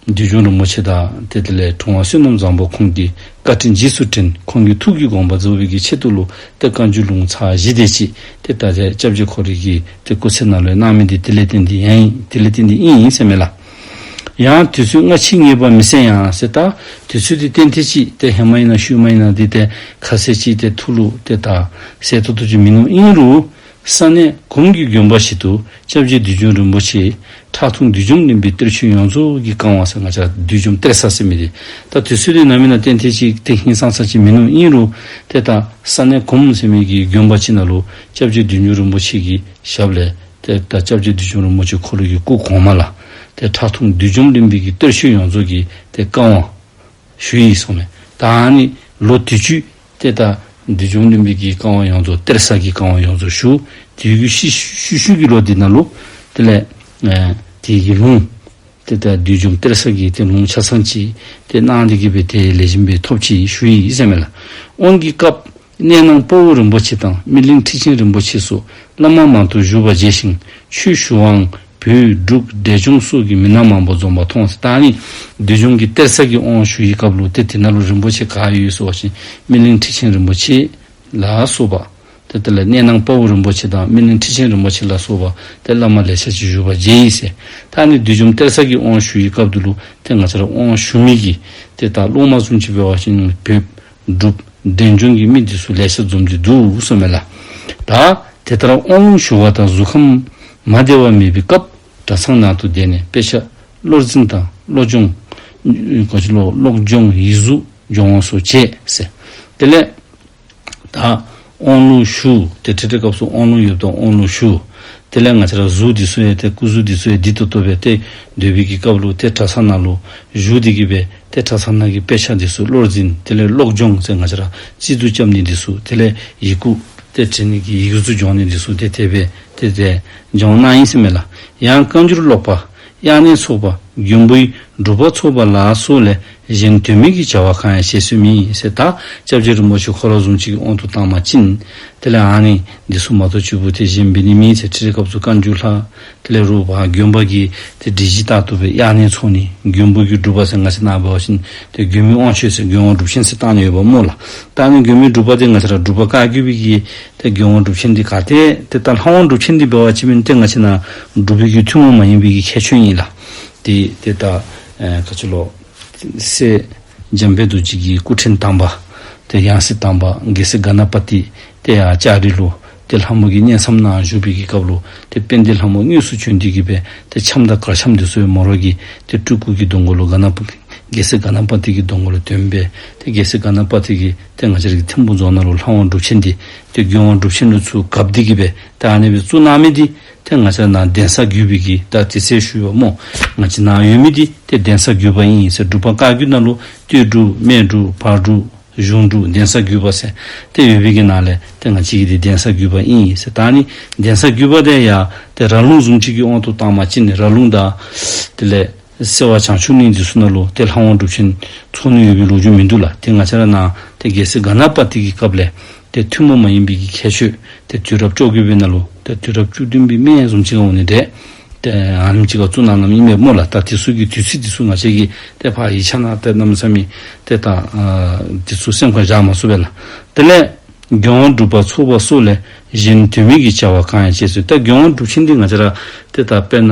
འདོད་ཆུང་རིན་པོ་ཆེ་དག། དེ་དེ་ལས་འཁྲུངས་བ་བསོད་ནམས་བཟང་པོ་ཁོང་གི། བཀའ་དྲིན་རྗེས་སུ་དྲན། ཁོང་གི་ཐུགས་ཀྱི་དགོངས་པ་རྫོགས་པའི་གྱི་ཆེད་དུ་ལུགས། ཏེ་བཀའ་འགྱུར་ལུང་ཚགས་བཞི་སྡེ་གཅིག། དེ་ལྟ་སྟེ་སྐྱབས་གཅིག་འཁོར་རིགས་ཀྱི། དེ་སྐུ་ཚེ་རྣམས་ལས་རྣམ་སྨིན་ཏེ་དེ་ལས་དེ་འདི་ཡན་ཡིན། དེ་ལས་དེ་འདི་དབྱིངས་ཡིན་སེམས་མེད་ལ། ཡང་དུས་ཚོད་སྔ་ཕྱིའི་ངེས་པ་མི་གསལ་ཡང་སྲིད་ད། དུས་ཚོད་དེ་གཏན་ཐེ་ཅིག་སྟེ་ཧེ་མ་ཡིན་ན་ཤུལ་མ་ཡིན་ན་འདི་སྟེ་ཁ་ཟས་ཅིག་སྟེ་ཐུགས་ལུགས་སྟེ་དག་སའི་ཐོག་ཐུགས་ཀྱི་མིང་ནོར་དབྱིངས་རུ། ས་གནས་གོམ་གྱི་རྒྱུན་འབའ་ཞིག་ཏུ་སྐྱབས་རྗེ་བདུད་འཇོམས་རིན་པོ་ཆེ། ཁྲག་འཐུང་བདུད་འཇོམས་གླིང་པའི་གཏེར་ཆོས་ཡོངས་རྫོགས་ཀྱི་བཀང་བ་ས་ང་ཆ་བདུད་འཇོམས་གཏེར་ས་སེ་མི་རི། ད་དུས་ཚོད་དེ་ནམ་ཡིན་ན་གཏན་ཐེ་ཅིག་སྟེ་ཧིན་སང་ས་ཅིག་མིང་ནོར་དབྱིངས་རུ། དེ་དག་ས་གནས་གོམ་སེ་མེད་ཀྱི་རྒྱུན་འབའ་ཅིག་ན་ལུ་སྐྱབས་རྗེ་བདུད་འཇོམས་རིན་པོ་ཆེ་གི་ཞབས་ལས་དེ་ལྟར་སྐྱབས་རྗེ་བདུད་འཇོམས་རིན་པོ་ཆེ་འཁོར་ལོ་ཡི་སྐུ་གོང་མ་ལ། དེ་ཁྲག་འཐུང་བདུད་འཇོམས་གླིང་འདི་གི་གཏེར་བཤོས་ཡོངས་རྫོགས་ཀྱི་དེ་བསྐང་བ། ཞུ་ཡིག་སོགས་མེད། དང་ནི་ལོ་དུས་བཅུས། དེ་ལྟར་བདུད་འཇོམས་གླིང་འདི་གི་བསྐང་བ་ཡོངས་རྫོགས་གཏེར་གསར་གྱི་བསྐང་བ་ཡོངས་རྫོགས་ཞུ། དེའི་གུས་ཤིས་ཤུལ་ཤུལ་གྱི་ལོ་དེ་ན་ལུ། དེ་ལས། དེ་ཡི་ལུང། དེ་ལྟར་བདུད་འཇོམས་གཏེར་གསར་གྱི་དེ་ལུང་ཆ་ཚང་གཅིག། དེ་སྣང་འདི་གུས་པའི་དེ་ལས་བྱིན་པའི་ཐོབ་ཕྱིར་ཞུ་ཡིག་ཡིད་བསྲེ་མེད་ལ། དབང་གི་སྐབས། གནས་ནང་སྤོ་བོ་རིན་པོ་ཆེ་དང་སྨིན་གླིང་ཁྲི་ཆེན་རིན་པོ་ཆེ་སོགས་བླ་མ་མང་དུ་བཞུགས་པ་མཇལ་ཞིང་ཆོས་ཞུ་དབང། བུ། འབྲུག། འབྲས་ལྗོངས་སོགས་ཀྱི་མི་སྣ་མང་པོ་འཛོམས་པ་མཐོང་སྟེ་ད་ནི་འདི་ལྗོངས་ཀྱི་གཏེར་གསར་གྱི་དབང་ཞུ་ཡི་སྐབས་ལོ་དེ་དེ་ན་ལོ་རིན་པོ་ཆེ་ག་ཡོད་སོགས་བཞིན་སྨིན་གླིང་ཁྲི་ཆེན་རིན་པོ་ཆེ་ལ་སོགས་པ་དེ་དེ་ལ་གནས་ནང་སྤོ་བོ་རིན་པོ་ཆེ་དང་སྨིན་གླིང་ཁྲི་ཆེན་རིན་པོ་ཆེ་ལ་སོགས་པ་དེ་བླ་མ་ལས་བྱ་ཅིག་བཞུགས་པ་མཇལ་ཡིན་ཟེར་ད་ནི་འདི་ལྗོངས་གཏེར་གསར་གྱི་དབང་ཞུ་ཡི་སྐབས་དེ་ལོ་དེ་ང་ཚོར་དབང་ཞུ་མི་གི་དེ་དག་སློང་མ་གསུམ་གྱི་བོད་བ་ཞིང་བོད་བསྒྲུབ། བདེ་འབྱུང་གི་མིག་འདི་སུ་ལས་ཤ་འཛོམ་གྱི་འདུག་བསམ་མེད་ལ། ད་དེ་ལྟར་དབང་ལུང་ཞུ་བ་དང་གཟུགས་ཁམས་མ་བདེ་བ་མེད་པའི་སྐབས་གྲྭ་ཚང་ནང་དུ་བསྡད་ནས་དཔེ་ཆ་བློར་འཛིན་དང་བློ་སྦྱོང། གློག་སྦྱོང་ཡིག་གཟུགས་སྦྱོང་བ་སོགས་བྱས་ཟེར། དེ་ལས། ད། དབང་ལུང་ཞུ། དེ་ཁྲིད་དེ་སྐབས་སུ་དབང་ལུང་ཡོད་དོ་དབང་ལུང་ཞུ། དེ་ལས་ང་ཚ་ར་གཟུགས་འདི་གསོལ་ཡས་ཏེ་སྐུ་གཟུགས་འདི་གསོལ་ཡས་འདི་ལྟ་བུ་བས་ཏེ་འདོད་བི་གི་སྐབས་ལུགས་དེ་གྲ་ས་ན་ལུགས་གཞུག་འདི་གི་བས་ཏེ་གྲ་ས་ན་གི་དཔེ་ཆ་འདི་སུ་བློར་འཛིན་དེ་ལས་ཀློག་སྦྱོང་ཚེ་ང་ཚ་ར་སྤྱི་གཙུག་སྐྱབས་ནི་འདི་སུ་དེ་ལས་ཡིག་སྐུ། དེ་ཁྲིད་ནི་གི་ཡིག་གཟུགས་སྦྱོང་ནི་འདི་སུ་དེ་དེ་བས་ཏེ་དེ་སྦྱོང་ན་ཡིན་སེམས་མེད་ལ་ཡང་བཀའ་འགྱུར་ཀློག་པ། དབྱར་གནས་ཚོགས་པ་རྒྱུན་བུའི་སྒྲུབ་པ་ཚོགས་པ་ལ་སོགས་ལས་གཞན་དོན་མེད་ཀྱི་བྱ་བ་གང་ཡང་བྱེད་སྲོལ་མིན་ཟེར་དག་སྐྱབས་རྗེ་རིན་པོ་ཆེ་ཁོ་རང་བཟུང་བྱས་ཀྱི་དབང་དུ་བཏང་མ་ཕྱིན། དེ་ལས་ཨང་ནི་འདི་སོ་མ་གཏོགས་བཅུ་བོ་དེ་བཞིན་འབི་ནི་མིན་ཚེ་ཁྲི་རེ་སྐབས་སུ་བཀའ་འགྱུར་ལྷག་དེ་ལས་རུ་བ་རྒྱུན་པ་གྱིས་དེ་འབྲི་གཞི་རྟག་ཏུ་བས་དབྱར་གནས་ཚོགས་ནི་རྒྱུན་བུ་རྒྱུ་སྒྲུབ་པ་ཟེར་ང་ཚེ་ནང་བས་བ་ཞིན་དེ་རྒྱུན་མི་དབང་ཆོས་ཟེར་རྒྱུན་དབང་སྒྲུབ་ཆེན་ཟེར་བཏགས་ནས་ཡོད་པ་སྨོས་ལ། རྟགས་ནི་རྒྱུན་མི་སྒྲུབ་པ་དེ་ང་ཚེ་ར་སྒྲུབ་པ་བཀའ་བརྒྱུད་བི་གྱིས་དེ་དགེ་དབང་སྒྲུབ་བྱེད་འདི་ག་སྟེ། དེ་ལྟར་ལྷ་དབང་སྒྲུབ་བྱེད་འདི་འབེལ་བ་ཅི་མིན་ཏེ་ང་ཕྱི་ནང་སྒྲུབ་ཕུལ་གྱི་ཐུན་མོང་མ་ཡིན་པའི་ཡི་གེའི་ཆོས་ཉིད་ལ། དེ་དེ་ལྟ། བཀའ་ཆོས་ལོག། སྲས། འཇམ་དཔལ་རྡོ་རྗེ་ཀྱི་སྐུ་ཕྲེང་དམ་པ། དེ་ཡང་སྲིད་དམ་པ་དགེ་སེ་ག་ན་པ་ཏི། དེ་ཡང་ལྕགས་རི་ལོ། དེ་ལྷ་མོ་གྱི་གཉེན་མཚམས་ནའང་བཞུགས་པའི་གི་སྐབས་ལོ། དེ་དཔལ་ལྡན་ལྷ་མོ་དངོས་སུ་བྱོན་དུས་གི་བས་དེ་འཆམ་དང་གར་འཆམ་དུ་སོའི་མོ་རོག་གི། དེ་སྤྲུལ་སྐུ་གི་སྡོང་མགོ་ལོ་ག་ན་པ། དགེ་སེ་ག་ན་པ་ཏི་གི་སྡོང་མགོ་ལ་དོན་དཔལ། དེ་དགེ་སེ་ག་ན་པ་ཏི་གི། དེ་སྔ་ཆར་གྱི་ཐེམ་ཁུངས་རྫོགས་ན་རུ་ལྷ་དབང་འགྲུབ་ཆེན་འདི་སྟེ་རྒྱུ་དབང་འགྲུབ་ཆེན་ནོར་ཚུལ་དགའ་བདེ་གིས་པའི་རྟགས་གནས་པའི་གཙུག་ན་མེད་དེ་དེ་སྔ་ཆར་ནང་གདན་ས་བརྒྱུད་པའི་གིས་རྟགས་དེ་ཚད་ཞུས་པ་རྨོ་ང་ཕྱི་ནང་ཡོད་མེད་དེ་དེ་གདན་ས་བརྒྱུད་པ་ཡིན་ཡིན་ཟེར་སྒྲུབ་པ་བཀའ་བརྒྱུད་ན་ལུ་སྟོད་སྒྲུབ་སྨད་སྒྲུབ་བར་སྒྲུབ་གཞུང་སྒྲུབ་གདན་ས་བརྒྱུད་པ་ཟེར་དེ་ཡོད་མེད་ཀྱི་ནང་ལས་དེ་སྔ་ཕྱི་གི་དེ་གདན་ས་བརྒྱུད་པ་ཡིན་ཡིན་ཟེར་རྟགས་ནི་གདན་ས་བརྒྱུད་པ་དེ་ཡང་དེ་ར་ལུང་ཟུང་གཅིག་གི་དབང་དུ་བཏང་མ་གཅིག་ནི་ར་ལུང་དང། དེ་ལས། སེར་བ་བྱང་ཆུབ་གླིང་འདི་སུ་ན་ལོ་དེ་ལྷ་དབང་སྒྲུབ་ཆེན་ཚོགས་ནི་ཡོད་པའི་ལུགས་རྒྱུན་མི་འདུག་ལ་དེ་ང་ཆ་ར་ནའང་དེ་རྒྱལ་སྲིད་ག་ན་པ་ཏི་ཀི་སྐབས་ལས་དེ་ཐུན་མོང་མ་ཡིན་པའི་ཀི་ཁྱད་ཆོས་དེ་དུས་རབས་བཅོ་བརྒྱད་པའི་ན་ལོ་དེ་དུས་རབས་བཅུ་བདུན་པའི་སྨད་གསུམ་ཅི་ག་འོག་ནས་འདས་ཨམ་ཅི་ག་གཙུག་ན་ནམ་ཡིན་པའི་སྨོ་ལ་ད་དེ་སུ་ཀི་དུས་ཚིགས་འདི་སུ་ང་ཆ་ཀི་དེ་ཕ་ཡི་ཆ་ན་དེ་ནམ་ས་མི་དེ་ད་དེ་སུ་སེམས་ཁོང་བཞག་མ་སོ་བས་ལ་དེ་ལས་རྒྱལ་དབང་སྒྲུབ་པ་ཚོགས་པ་སུ་ལས་གཞན་དུས་མིན་གི་བྱ་བ་གང་ཡང་བྱེད་སྲིད་ད་རྒྱལ་དབང་སྒྲུབ་ཆེན་འདི་ང་ཆ་ར་དེ་ད་དཔེར་ན།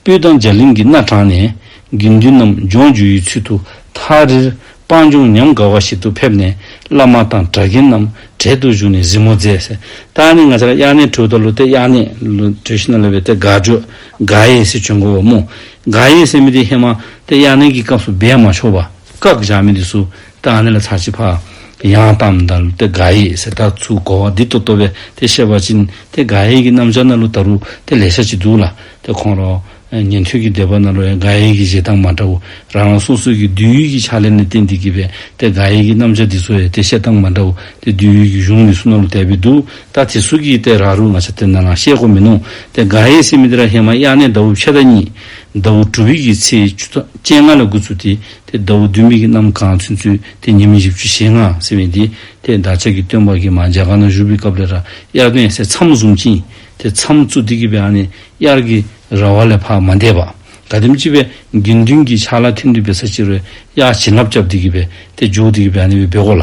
སྤོས་དང་འཇའ་ལིང་གི་སྣ་དྲངས་ནས། དགེ་འདུན་རྣམས་ལྗོངས་རྒྱུ་ཡི་ཚུལ་དུ་ཐག་རིལ་སྤང་ལྗོངས་ཉམས་དགའ་བ་ཞིག་ཏུ་ཕེབས་ནས་བླ་མ་དང་གྲྭ་རྒན་རྣམས་གྲལ་དུ་བཞུགས་ནས་གཟིགས་མོ་མཛད། ད་ནི་ང་ཅག་དབྱར་གནས་དྲོད་དུ་ལུས་ཏེ་དབྱར་གནས། དྲོད་ཤི་ན་ལོས་པའི་ཏེ་དགའ་དྲོད་དགའ་ཡས་སེ་བྱོན་གོ་བ་མོ། དགའ་ཡས་སེ་མི་དེ་ཧེ་མ་ཏེ་དབྱར་གནས་ཀྱི་སྐབས་སུ་སྦས་མ་ཆོག་པ། བཀག་བཞག་མི་དེ་སུ་རྟགས་ནི་ལ་ཚ་བྱི་ཕག། ཡང་གཏམ་མདའ་ལུ་སྟེ་ག་ཡེ་སེ་ད་ཚུགས་གོ་བ་འདི་ཏོ་ཏོ་བས་དེ་བཤད་པ་ཅི། དེ་ག་ཡེ་གི་གནམ་ལྕགས་སྣ་ལུ་ད་རུ་དེ་ལས་ཤ་ཅི་འདུག་ལ་དེ་ཁོང་རོ། ཉན་ཐོས་ཀྱི་འདོད་པ་སྣ་ལུ་ཡང་ག་ཡེ་གི་བཞེད་སྟངས་མ་འདྲ་བོ། རང་རང་སོ་སོའི་གི་བསྡུས་ཡུལ་གྱི་ཕྱག་ལེན་ནི་བསྟན་འདི་གི་བས་དེ་ག་ཡེ་གི་གནམ་ལྕགས་འདི་ཚོ་ཡང་དེ་བཤད་སྟངས་མ་འདྲ་བོ་དེ་བསྡུས་ཡུལ་གྱི་གཞུང་མི་སུ་སྣ་ལུ་དད་པས་འདུག་ད་དེ་སུ་གིས་དེ་ར་རུ་ང་ཆ་དེ་ན་ལང་ཤེས་གོ་མི་ནོ། དེ་ག་ཡེ་སེ་མི་དེ་ར་ཧེ་མ་གཡག་ནས་ཟླ་བུ་ཕྱེད་ད་གཉིས། ཟླ་བུ་དྲུག་གི་ཚེས་བཅུ་ད་སྤྱན་སྔ་ལ་དགུ་ཚུ་དེ། དེ་ཟླ་བོ་བདུན་མིག་གི་གནམ་གང་ཚུན་ཚུད་དེ་ཉི་མ་བཞི་བཅུ་ཞེ་ལྔ་ཟིན་བས་འདི་དེས་འདག་ཆགས་ཀྱི་སྟོན་པ་གིས་མ་འཇལ་ག་ན་བཞུགས་པའི་སྐབས་ལས་ར་དབྱར་གནས་སའི་མཚམས་བཟུང་བཅིངས་དེ་མཚམས་བཙུགས་དེ་གི་བའི་ཨ་ནི་དབྱར་གྱི་ར་བ་ལས་འཕགས་མ་འདས་པ་དགའ་ལྡེམ་ལྕི་བས་དགེ་འདུན་གྱི་ཕྱག་ལ་ཐིམ་དུས་བའི་ས་ཕྱི་རོལ་དབྱར་བྱིན་རླབས་བརྒྱབ་དེ་གི་བས་དེ་འཇུག་དེ་གི་བའི་ཨ་ནི་བའི་སྦས་སྒོ་ལ།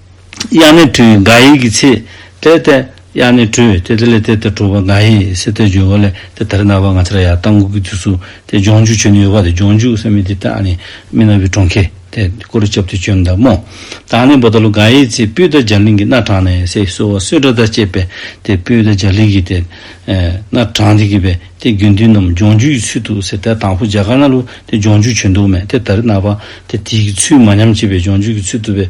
དབྱངས་ནི་འཁྲུལ་འགའ་ཡིག་གི་ཚིག། དེ་སྟེ། དབྱངས་ནི་འཁྲུལ་དེ་དེ་ལས་དེ་ལྟར་གྲུབ་པ་འགའ་ཡིག་སྲིད་དེ་བརྗོད་བ་ལས་དེ་དར་ནག་པ་ང་ཚ་ར་ཡ་ཏང་གུ་གུ་དུས་སུ་དེ་ལྗོངས་རྒྱུ་ཆོས་ནི་ཡོད་པ་དེ་ལྗོངས་རྒྱུ་སེམས་མི་དེ་ལྟ་ནི་མི་ན་བུའི་གྲོང་ཁྱེར་དེ་ཀོ་རུ་ཁྱབ་དེ་ཆོས་མདའ་མོ་དང་ནི་འབོ་ད་ལུ་འགའ་ཡིག་ཚིག་སྤུས་དར་འཇར་ལིང་གི་སྣ་དྲངས་ནས་སེ་སོ་བ་བསོད་དྲ་དར་བཅས་པས་དེ་སྤུས་དར་འཇར་ལིང་གི་དེ་སྣ་དྲངས་དེ་གི་བས་དེ་དགེ་འདུན་རྣམས་ལྗོངས་རྒྱུ་ཡི་ཚུལ་དུ་སེ་དར་དང་པོ་འཇལ་ཁ་ན་ལུ་དེ་ལྗོངས་རྒྱུ་ཆོས་མདོ་མེད་དེ་དར་ནག་པ་དེ་དེའི་གི་ཚུལ་མ་ཉམས་བྱེད་པའི་ལྗོངས་རྒྱུ་གི་ཚུལ་དུ་བས།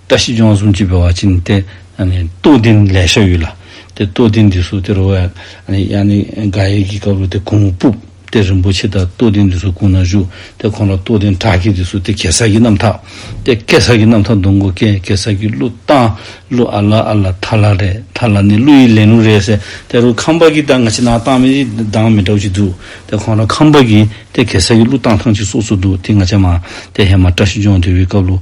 བཀྲ་ཤིས་སྦྱོང་གསུམ་གྱིས་འབེལ་བ་བྱིན་ཏེ། བསྟོད་བསྟན་ལས་བཤགས་ཡུལ་ལ། དེ་བསྟོད་བསྟན་འདི་སོགས་དེར་བས། དགག་དབྱེ་གྱི་སྐབས་རུ་དེ་གུང་མོ་སྤུབས། དེ་རིན་པོ་ཆེ་དག་བསྟོད་བསྟན་འདི་སོགས་གུང་ན་བཞུགས། དེ་གོང་ལ་བསྟོད་བསྟན་དྲག་བསྐྱེད་འདི་སོགས་དེ་གེ་སར་གྱི་རྣམ་ཐག། དེ་སྐད་སར་གྱི་རྣམ་ཐག་འདོན་གོ་ཀེ་གེ་སར་གྱི་གླུ་བཏང། གླུ་ཨ་ལ་ཨ་ལ་ཐ་ལ་རེ་ཐ་ལ་ནི་གླུ་ཡི་ལན་ལུགས་རེད་ཟེར། དེ་རུ་ཁམས་པ་གི་དང་ང་ཕྱི་ནང་བཏང་མི་རིགས་གདངས་མི་འདྲ་བོ་ཅིག་འདུག་དེ་གོང་ལ་ཁམས་པ་གིས་དེ་གེ་སར་གྱི་གླུ་བཏང་ཐང་ཅིག་སོགས་སུ་འདུག་དེ་ང་ཆ་མ། དེ་ཧེ་མ་བཀྲ་ཤིས་སྦྱོང་དེ་བས་སྐབས་ལུགས།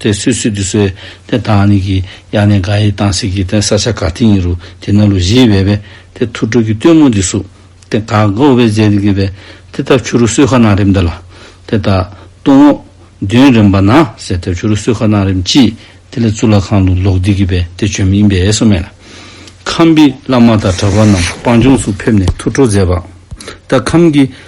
དེ་སུད་སུད་དུ་གསོལ། དེ་དང་ནི་གི་ཡ་ནས་ག་ཡི་དང་སི་གི་དན་ས་ཆ་ག་ཏི་ཡིན་རུ་དེ་ན་ལུ་བཞི་བས་བས། དེ་ཐུགས་སྤྲུལ་གྱི་སྟོན་མོ་འདི་སུ། དེ་ག་ག་འོ་བས་མཛད་དེ་གི་བས། དེ་ཐབས་ཆུ་རུ་སུད་ཁ་ན་རིམ་འདི་ལ། དེ་ད་དུང་འོ། བདུན་རིམ་པ་ན་ཟེར་ཐབས་ཆུ་རུ་སུད་ཁ་ན་རིམ་གྱིས། དེ་ལས་གཙུག་ལག་ཁང་དུ་ལོག་འདི་གི་བས་དེ་བྱོན་མིན་བས་སོ་སྨྲས་ལ། ཁམས་པའི་བླ་མ་དང་གྲྭ་པ་རྣམས་སྤང་ལྗོངས་སུ་ཕེབས་ནས་ཐུགས་སྤྲོ་མཛད་པ། ད་ཁམས་ཀྱི་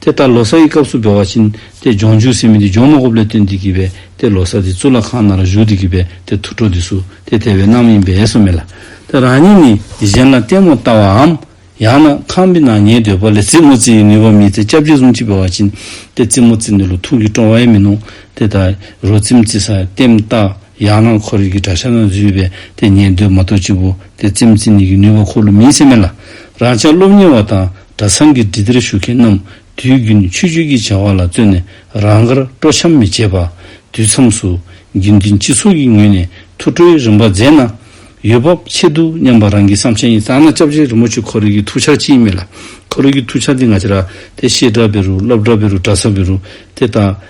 དེ་ལྟར་ལོ་སར་གྱི་སྐབས་སུ་འབེལ་བ་བྱིན་ཏེ་ལྗོངས་འཇུག་སྲིད་མི་དེ་ལྗོངས་མ་ཧོབ་ལས་སྟོན་འདི་བགྱིས་པས་དེ་ལོ་སར་དེ་གཙུག་ལག་ཁང་ནང་ལ་བཞུགས་འདི་བགྱིས་པས་དེ་དུར་ཁྲོ་འདི་གསུ་དེ་དེ་བས་གནང་མིན་འབེལ་སོ་མེད་ལ། དེ་རང་ཉིད་ནི་གཞན་ལ་ལྟད་མོར་ལྟ་བའམ། ཡང་ན་ཁང་པའི་ནང་ཉལ་འདོད་པ་ལས་རྩིབ་མོ་རྩི་ཡི་ནུས་པ་མེད་ཚེ་སྐྱབས་རྗེ་གསུམ་གྱིས་འབེལ་བ་བྱིན་ཏེ་རྩིབ་མོ་རྩི་འདི་ལོ་ཐུང་གིས་བཀྲོངས་བས་མི་གནོང་དེ་ལྟར་རོ་རྩིབ་རྩི་སར་ལྟེམ་བཏགས། ཡང་ན་འཁོར་རིགས་ཀྱི་དགྲ་ཤ་ན་བརྫུས་པས་དེ་ཉན་འདོད་མ་གཏོགས་སྤྱི་བོ་དེ་ཙེམ་ཙི་ནི་ཡི་ནུས་པ་འཁོར་ལོ་མིའི་སེམས་མེད་ལ། རང་ཅག་སློབ་གཉེར་བ་དང་གྲྭ་ཚང་གི་འདྲི་དེར་ཞུགས་མཁན་རྣམས་དུས་རྒྱུན་ཆོས་བརྒྱུད་ཀྱི་བྱ་བ་ལ་བརྩོན་ནས་རང་དགར་སྤྲོ་འཆམ་མི་བྱེད་པར། དུས་མཚམས་སུ། རྒྱུན་འཛིན་སྤྱི་ཚོགས་ཀྱི་ངོས་ནས་ཐུགས་ཁྲོའི་རིམ་པ་མཛད་ན། ཡུལ་བབ་ཆེད་དུ་སྙམ་པ་རང་གི་བསམ་འཆར་ཡིན་ཙང་ན་སྐྱབས་རྗེ་རིན་པོ་ཆེ་འཁོར་རིགས་ཀྱི་ཐུགས་འཆར་ཅིའི་མེད་ལ། འཁོར་རིགས་ཀྱི་ཐུགས་འཆར་འདི་ང་ཅི་ར། དེ་བཤད་གྲྭ་བེ་རུ་སློབ་གྲྭ་བེ་རུ་གྲྭ་ཚང་བེ་རུ། དེ་ལྟ།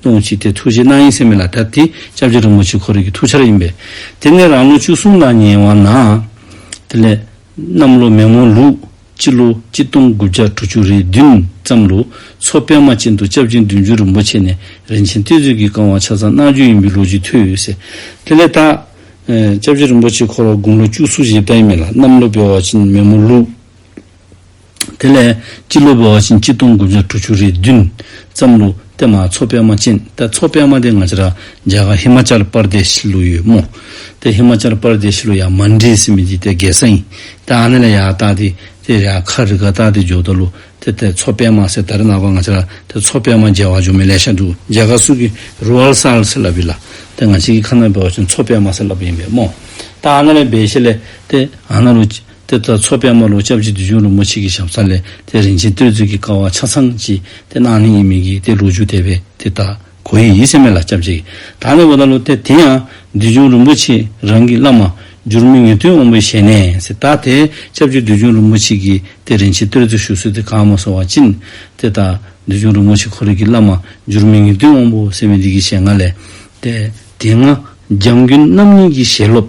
སྟོང་གཅིག་སྟེ་ཐུགས་རྗེ་སྣང་ཡེ་སེམས་མེ་ལ་དབབ་སྟེ་ལྕགས་ཀྱུ་རིན་པོ་ཆེ་འཁོར་རིགས་ཀྱི་ཐུགས་ཆར་ཡིན་པས། དེ་ནས་རང་ལོ་བཅུ་གསུམ་ལ་ཉེ་བ་ན། དེ་ལས། གནམ་ལོ་མེ་མོ་ལུག། སྤྱི་ལོ་གཅིག་སྟོང་དགུ་བརྒྱ་དྲུག་ཅུ་རེ་བདུན་ཙམ་ལོ་མཚོ་པད་མ་ཅན་དུ་ལྕགས་ཀྱུ་བདུན་ཅུ་རིན་པོ་ཆེ་ནས་རིན་ཆེན་གཏེར་མཛོད་ཀྱི་བསྐང་བ་ཆ་ཚང་གནང་རྒྱུ་ཡིན་པའི་ལོ་རྒྱུས་ཐོས་ཟེར། དེ་ལས་ད། ལྕགས་ཀྱུ་རིན་པོ་ཆེ་འཁོར་བ་དགུང་ལོ་བཅུ་གསུམ་བཞེས་བལྟ་ཡི་མེད་ལ་གནམ་ལོ་པད་མ་ཅན་མེ་མོ་ལུག། དེ་ལས། སྤྱི་ལོ་བའོ་ཞིན་སྤྱི་སྟོང་དགུ་བརྒྱ་དྲུག་ཅུ་རེ་བདུན། ཙམ་ལུགས། ཏེ་མ་མཚོ་པད་མ་ཅན། ཏེ་མཚོ་པད་མ་དེ་སྔ་ཕྱིར། རྒྱ་གར་ཧི་མ་ཅཱལ་པར་དེ་ཤི་ལུགས་ཡོད་མོད། ཏེ་ཧི་མ་ཅཱལ་པར་དེ་ཤི་ལུགས་ཡང་མ་འདྲེས་སི་མི་འདི་ཏེ་གེ་སཱ་ཡིན། ཏེ་ཨ་ནེ་ལ་ཡ་ཨ་ཏཱ་ཏི། ཏེ་རེ་ཨ་ཁ་རི་ཀ་ཏཱ་ཏི་ཇོ་ཏཱ་ལུ། ཏེ་ཏེ་མཚོ་པད་མ་སེ་ཏཱ་རི་ནག་པ་སྔ་ཕྱིར། ཏེ་མཚོ་པད་མ་རྒྱལ་བ་ཇོ་མེ་ལེ་ཤ་འབྲུག་རྒྱལ་ཁ་སུ་ཀི་རུ་ཨལ་སཱ་ཨལ་སི་ལ་བི་ལ། ཏེ་སྔ་ཕྱི་ཀི་ཁ་ན་བའོ་ཞིན་མཚོ་པད་མ་སེ་ལ་བི་ཡིན་པས་མོ། ཏེ་ཨ་ན་རེ་བའི་ཤེ་ལེ། ཏེ་ཨ་ན་རུ། དེ་ལྟར་མཚོ་པད་མ་ལོ་སྐྱབས་ཀྱི་དུས་ཆུང་རིན་པོ་ཆེ་གི་ཞབས་ས་ལས་དེ་རིན་ཆེན་བསྟོད་ཚིག་གི་ཀ་བ་ཆ་ཚང་གཅིག་དེ་གནང་ནི་ཡིན་མིན་གྱིས་དེ་ལུག་ཕྱུགས་དད་པས་དེ་ལྟ་གོ་ཡི་ཡིད་སེམས་མེད་ལ་སྐྱབས་རྗེ་ད་ནི་བོ་ད་ལོ་དེ་དེ་ཡང་དུས་ཆུང་རིན་པོ་ཆེ་རང་གི་བླ་མ་འགྱུར་མི་ངེས་དོན་འོང་པའི་ཞལ་ནས་སི་ད་དེ་སྐྱབས་ཀྱི་དུས་ཆུང་རིན་པོ་ཆེ་གིས་དེ་རིན་ཆེན་བསྟོད་ཚིག་ཞུ་སྲོལ་དེ་གང་མ་སོང་བ་ཅིན་དེ་ད་དུས་ཆུང་རིན་པོ་ཆེ་ཁོ་རིག་གི་བླ་མ་འགྱུར་མི་ངེས་དོན་འོང་པོ་ཟེར་བའི་འདི་གི་ཞལ་སྔ་ལས་དེ་དེ་སྔ་རྒྱང་རྒྱུན་རྣམ་གཉིས་ཀྱི་ཞལ་སློབ།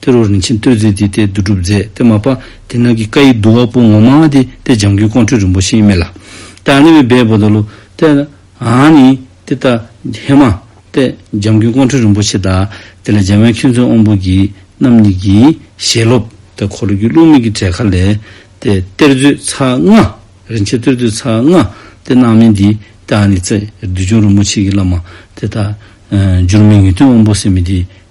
དེ་རུ་རིན་ཆེན་བསྟོད་ཚིག་འདི་སྟེ་བསྡུ་སྒྲུབ་མཛད་དེ་མ་པ་དེ་རྣམས་ཀྱིས་བཀའ་ཡི་བསྡུ་བ་པོ་ངོ་མ་དེ་སྟེ་འཇམ་མགོན་ཀོང་སྤྲུལ་རིན་པོ་ཆེའི་སྨད་ལ། ཏེ་ཨ་ནི་བའི་སྦས་པོ་དང་ལུ། ཏེ་ཨཱ་ནི། ཏེ་ཏཱ་ཧེ་མ། ཏེ་འཇམ་མགོན་ཀོང་སྤྲུལ་རིན་པོ་ཆེ་དང། དེ་ལ་འཇམ་དབྱངས་མཁྱེན་བརྩོན་དབང་པོ་གྱི། རྣམ་གཉིས་ཀྱིས་ཞལ་སློབ། ཏེ་འཁོར་ལོ་རྒྱུད་བླུགས་མིག་གི་བྲེ་ཁ་ལས། ཏེ་གཏེར་མཛོད་ཚ་རྔ། རིན་ཆེན་གཏེར་མཛོད་ཚ་རྔ། ཏེ་སྣང་མེད་འདི། ཏེ་ཨཱ་ནི། ཏེ་བདུད་འཇོམས་རིན་པོ་ཆེ་གྱི་བླ་མ། ཏེ་ཏཱ། འཇུར་མེད་ངེས་དོན་དབང་པོ་སེམས་མེད་འདི།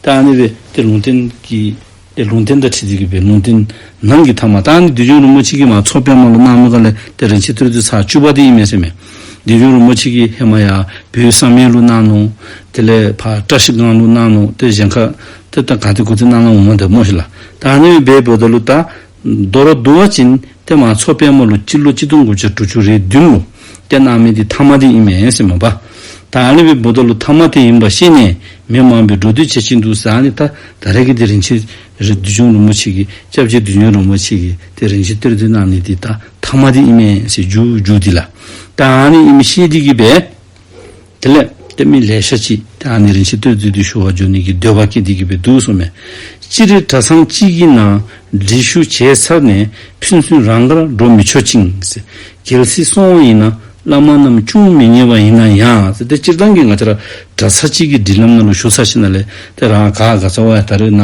རྟགས་ནི་བའི་སྟེ་ལུང་བསྟན་གྱི། སྟེ་ལུང་བསྟན་དང་ཁྲིད་རྩིས་ཀྱི་བའི་ལུང་བསྟན། ནང་གི་ཐ་མ་རྟགས་ནི་བདུད་འཇོམས་རིན་པོ་ཆེ་ཀྱིས་མ་ཚོགས་པད་མ་ལོ་ནག་མོའི་བཀའ་ལས་ཏེ་རིན་ཆེན་ཐོད་རྡུལ་ཚར་བཅུ་པ་དེ་ཡིན་མེད་སེམས། བདུད་འཇོམས་རིན་པོ་ཆེ་ཀྱིས་ཧེ་མ་ཡ་བུའི་གསང་སྨན་ལུགས་སྣང་ནོ། དེ་ལས་བར་བཀྲ་ཤིས་སྒང་ལུགས་སྣང་ནོ། དེ་བཞེངས་ཁ། དེ་ལྟར་གང་དེ་དགུ་ཚིག་རྣམ་ལྔ་འོང་བ་འདི་སྨྲོས་ཤིག་ལ། རྟགས་ནི་བའི་བུ་ད་ལུ་རྟགས། མདོར་བསྡུ་བ་ཅན་ཏེ་མ་ཚོགས་དཔལ་མོ་ལོ་སྤྱི་ལོ་གཅིག་སྟོང་དགུ་བརྒྱ་དྲུག་ཅུ་རེའི་བདུན་ལོ་སྐྱ་ནག་མེད་དེ་ཐ་མ་དེ་ཡིན་མེད་ཟེར་མོད་པ། ད་ཨ་ལི་བའི་བུ་ད་ལོ་ཐ་མ་དེ་ཡིན་པ་ཤེས་ནས་མི་མང་པོས་འགྲོ་འདུག་བྱེད་ཀྱིན་འདུག་ཟེར་ཨ་ལི་ད་ད་རེ་གི་དེ་རིན་ཆེན་བདུད་འཇོམས་རིན་པོ་ཆེ་གི་སྐྱབས་རྗེ་བདུད་འཇོམས་རིན་པོ་ཆེ་གི་དེ་རིན་ཆེན་གཏེར་སྟོན་གནང་ནས་དེ་ད་ཐ་མ་དེ་ཡིན་མེད་ཟེར་རྒྱུ་རྒྱུ་དེ་ལ་ད་ཨ་ལི་ཨི་མི་ཤེས་དེ་གི་བས། དེ་ལས། སྟོད་སྨད་ལས་ཤ་གཅིག་དེ་ཨ་ནེ་རིན་ཆེན་སྟོད་རྩིས་དུས་ཞུ་བ་འཇོག་ནུས་ཀྱི་འདོད་པ་སྐྱེ་འདི་སྐྱེ་བའི་དུག་སོགས་མེད། སྤྱི་རེ་གྲ་ཚང་གཅིག་གི་ནང་འབྲི་ཞུ་བྱས་ཚར་ནས་ཕན་ཚུན་རང་དགར་འགྲོ་མི་ཆོག་ཅིང། གལ་སྲིད་སོང་བ་ཡིན་ན་བླ་མ་རྣམས་ཅུང་མི་ཉེ་བ་ཡིན་ན་ཡང། དེ་སྤྱིར་བཏང་གི་ང་ཅག་གྲ་ཚ་གཅིག་གི་འབྲི་ལམ་ནང་ལ་ཞུགས་ཚར་ཕྱིན་ན་ལས་དེ་རང་ག་ག་ཚོ་བས་ད་རེས་ན་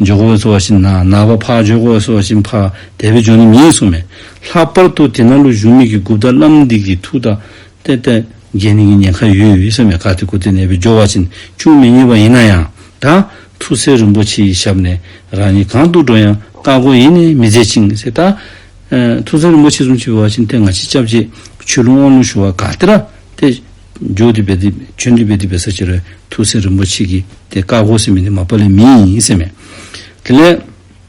འཇོག་གོ་བས་ཚོ་བ་བཞིན་ན་ན་བ་ཕག་འཇོག་གོ་བས་ཚོ་བ་བཞིན་ཕག་དལ་བས་འཇོག་ནུས་མིན་སོགས་མེད། ལྷག་པར་དུ་དེ་ན་ལོ་གཞུང་མིག་གི་དགུ་བདག་བླ་མ་འདི་གི་ཐུགས་དག་ཏེ་ཏེ། རྒྱས་ནི་གི་ཉེན་ཁ་ཡོད་ཡོད་ཡིད་ས་མེད་ཁ་ཏེ་ཀུ་ཏེ་ནད་པའི་སྦྱོར་བ་ཅན་ཅུང་མི་རྙེད་པ་ཡིན་ན་ཡང་ད། ཐུགས་སྲས་རིན་པོ་ཆེ་ཡི་ཞབས་ནས་རང་ཉིད་གང་འདུག་འགྲོ་ཡང་བཀའ་བསྒོ་ཡེ་ནས་མི་མཛད་ཅིང་ཟེར་ད། ཐུགས་སྲས་རིན་པོ་ཆེ་གསུམ་ཆུད་བ་ཅན་ཏེ་ང་ཕྱི་སྐྱབས་རྗེ་ཆོས་ལུང་དབང་ལུང་ཞུ་བ་ག་ཏེ་ར་ཏེ། ཇོ་དི་བེ་ཏི་ཇོན་དི་བེ་ཏི་བེ་ས་ཅི་རོའི་ཐུགས་སྲས་རིན་པོ་ཆེ་གིས་ཏེ་བཀའ་བསྒོ་ཟིན་མི་ནི་མ་པ་ལི་མི་ཡིན་ཟེར་མོད། དེ་ལས།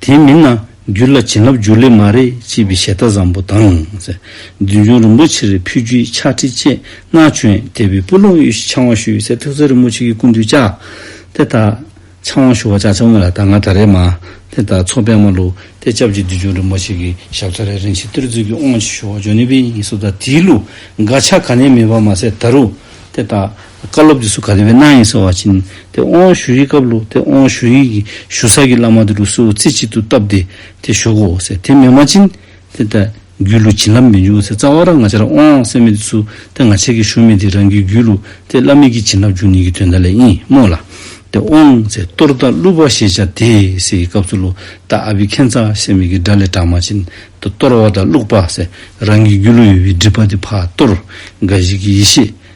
དེ་མིན་ན་རྒྱུད་ལ་བྱིན་རླབས་འཇུག་ལེ་མ་རེད་ཅེས་པའི་ཞལ་བསྟ་བཟང་པོ་དང། བདུད་འཇོམས་རིན་པོ་ཆེར་ཕུལ་རྒྱུའི་ཕྱག་ཁྲིད་བཅས་སྔ་བྱོན་དད་པའི་སྤུ་ལོང་གཡུ་བཞི་འཆང་དབང་ཞུ་བའི་ཚེ་ཐུགས་བརྩེ་རིན་པོ་ཆེ་གི་སྐུ་མདུན་ལྕགས་དེ་དག་འཆང་དབང་ཞུ་བ་ལྕགས་ཆ་དངོས་ལ་ད་སྔ་ད་རེས་མ། དེ་དག་ཚོགས་པད་མ་ལུགས་དེ་སྐྱབས་ཀྱི་བདུད་འཇོམས་རིན་པོ་ཆེ་གི་ཞབས་ཁྲ་རེ་རིན་ཆེན་གཏེར་མཛོད་ཀྱི་དབང་ཕྱི་ཞུ་བ་ཇོ་ནེ་པི་ཡིན་སོགས་དང་དེའི་ལུགས་འགའ་ཆ་ག་ནས་མེད་པ་མ་ཟད་ད་རུ་དེ་དག་བཀའ་སློབ་དེ་སུ་ག་དེ་བས་གནང་ཡིན་ཟེར་བ་བྱིན་ཏེ་ཨོང་བ་ཞུ་ཡིག་བཀབ་ལོ་དེ་ཨོང་བ་ཞུ་ཡིག་གི་ཞུ་ས་ཀྱི་བླ་མ་དེ་རུ་སུའོ་རྩེ་གཅིག་ཏུ་བཏབ་སྟེ་དེ་ཞོག་གོ་ཟེར་དེ་མེད་མ་བྱིན་ཏེ་ད་རྒྱུད་ལུགས་བྱིན་རླབས་མི་འབྱུང་བ་ཟེར་རྩ་བ་རང་ང་ཅག་རང་ཨོང་བ་སེར་མེད་དེ་སུ་དེ་ང་ཅག་གིས་ཞུ་མེད་དེ་རང་གི་རྒྱུད་ལུགས་དེ་བླ་མེད་ཀྱི་བྱིན་རླབས་འབྱུང་ནུས་ཀྱི་དོན་དག་ལས་ཡིན་སྨྲོས་ལ། དེ་ཨོང་ཟེར་གཏོར་བདག་བསླུ་བ་ཞེས་བྱ་དེ་ཟེར་གྱི་སྐབས་སུ་ལོ་ད་ཨ་བི་ཁན་ཚ་ཤེ་མེད་ཀྱི་སྒྲ་ལས་གྲགས་མ་བྱིན་ཏེ་གཏོར་བ་དང་བླུགས་པ་ཟེར་རང་གི་རྒྱུད་ལུགས་ཡོད་པའི་སྒྲིབ་པ་དེ་ཕ་གཏོར་དགའ་བཞི་ཀྱི་ཡེ་ཤེས་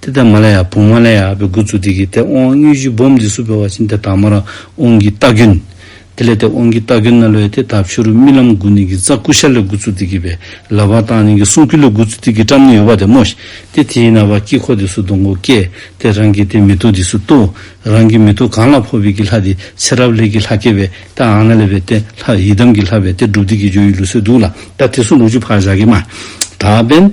ཏི་ཏཱ་མ་ལ་ཡ་བུང་མ་ལ་ཡ་བའི་དགུ་ཚུགས་དེ་གིས་ཏེ་དབང་དངོས་གཞི་སྦོམ་འདི་སུ་བས་བ་བྱིན་ཏེ་དྭངས་མ་ར་དབང་གི་རྟགས་ཀུན། དེ་ལས་ཏེ་དབང་གི་རྟགས་ཀུན་ན་ལོའི་ཏེ་དག་ཕྱུ་རུ་རྨི་ལམ་དགུ་ནི་གི་རྩ་ཀུ་ཤ་ལས་དགུ་ཚུགས་དེ་གིས་བས་ལ་བ་དང་ནི་གི་གསུང་ཀུན་ལས་དགུ་ཚུགས་དེ་གིས་བཀྲམ་ནི་ཡོད་བ་དེ་མོ། ཏེ་དེས་ན་བ་དཀྱིལ་འཁོར་འདི་སུ་སྡོང་གོ་ཀས་ཏེ་རང་གི་ཏེ་མི་ཏོ་འདི་སུ་ཏོ། རང་གི་མི་ཏོ་གང་ལ་འཕོ་བའི་གི་ལྷ་དེ་ཚེ་རབས་ལས་གི་ལྷ་སྐྱེ་བས་ཏེ་ཨང་ན་ལས་བས་ཏེ་ལྷ་ཡི་དམ་གི་ལྷ་བས་ཏེ་སྒྲུབ་སྡེ་གི་སྦྱོར་ཡུལ་ལུ་སོའི་གདུགས་ལ། ད་དེ་སུ་ལུ་ཆུ་ཕག་ཞག་གི་མ། དག་པན།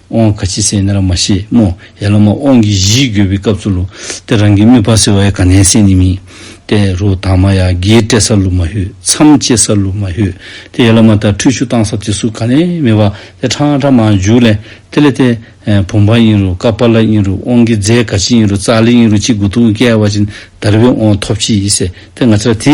དབང་ག་ཅི་སེ་ན་ར་མ་ཤེས་མོ། ཡ་ལ་མ་དབང་གི་གཞི་དགོས་པའི་སྐབས་སུ་ལུ། ཏེ་རང་གི་མི་བ་སེ་བ་ཡ་ག་ནན་སེ་ནི་མི། ཏེ་རུ་དང་མ་ཡ་གི་སྤྲད་ས་ལུ་མ་ཧུད་མཚམས་བཅད་ས་ལུ་མ་ཧུད། ཏེ་ཡ་ལ་མ་ད་ཁྲུས་ཆུ་བཏང་ས་དེ་སུ་ག་ནན་མི་བ་ཏེ་ཁྲ་ཨང་ཁྲ་མ་ཨང་འཇུག་ལེ། ཏེ་ལེ་ཏེ། བུམ་པ་ཨིན་རུ་ཀ་པ་ལ་ཨིན་རུ་དབང་གི་རྫས་ག་ཅི་ཨིན་རུ་ཙ་ལེ་ཨིན་རུ་ཅི་དགུ་ཏུ་ཨུ་ཀ་ཡ་བ་ཅི་ནི་དར་བའི་དབང་ཐོབ་ཅི་ཡི་སེ་ཏེ་ང་ཅི་ར་དེ་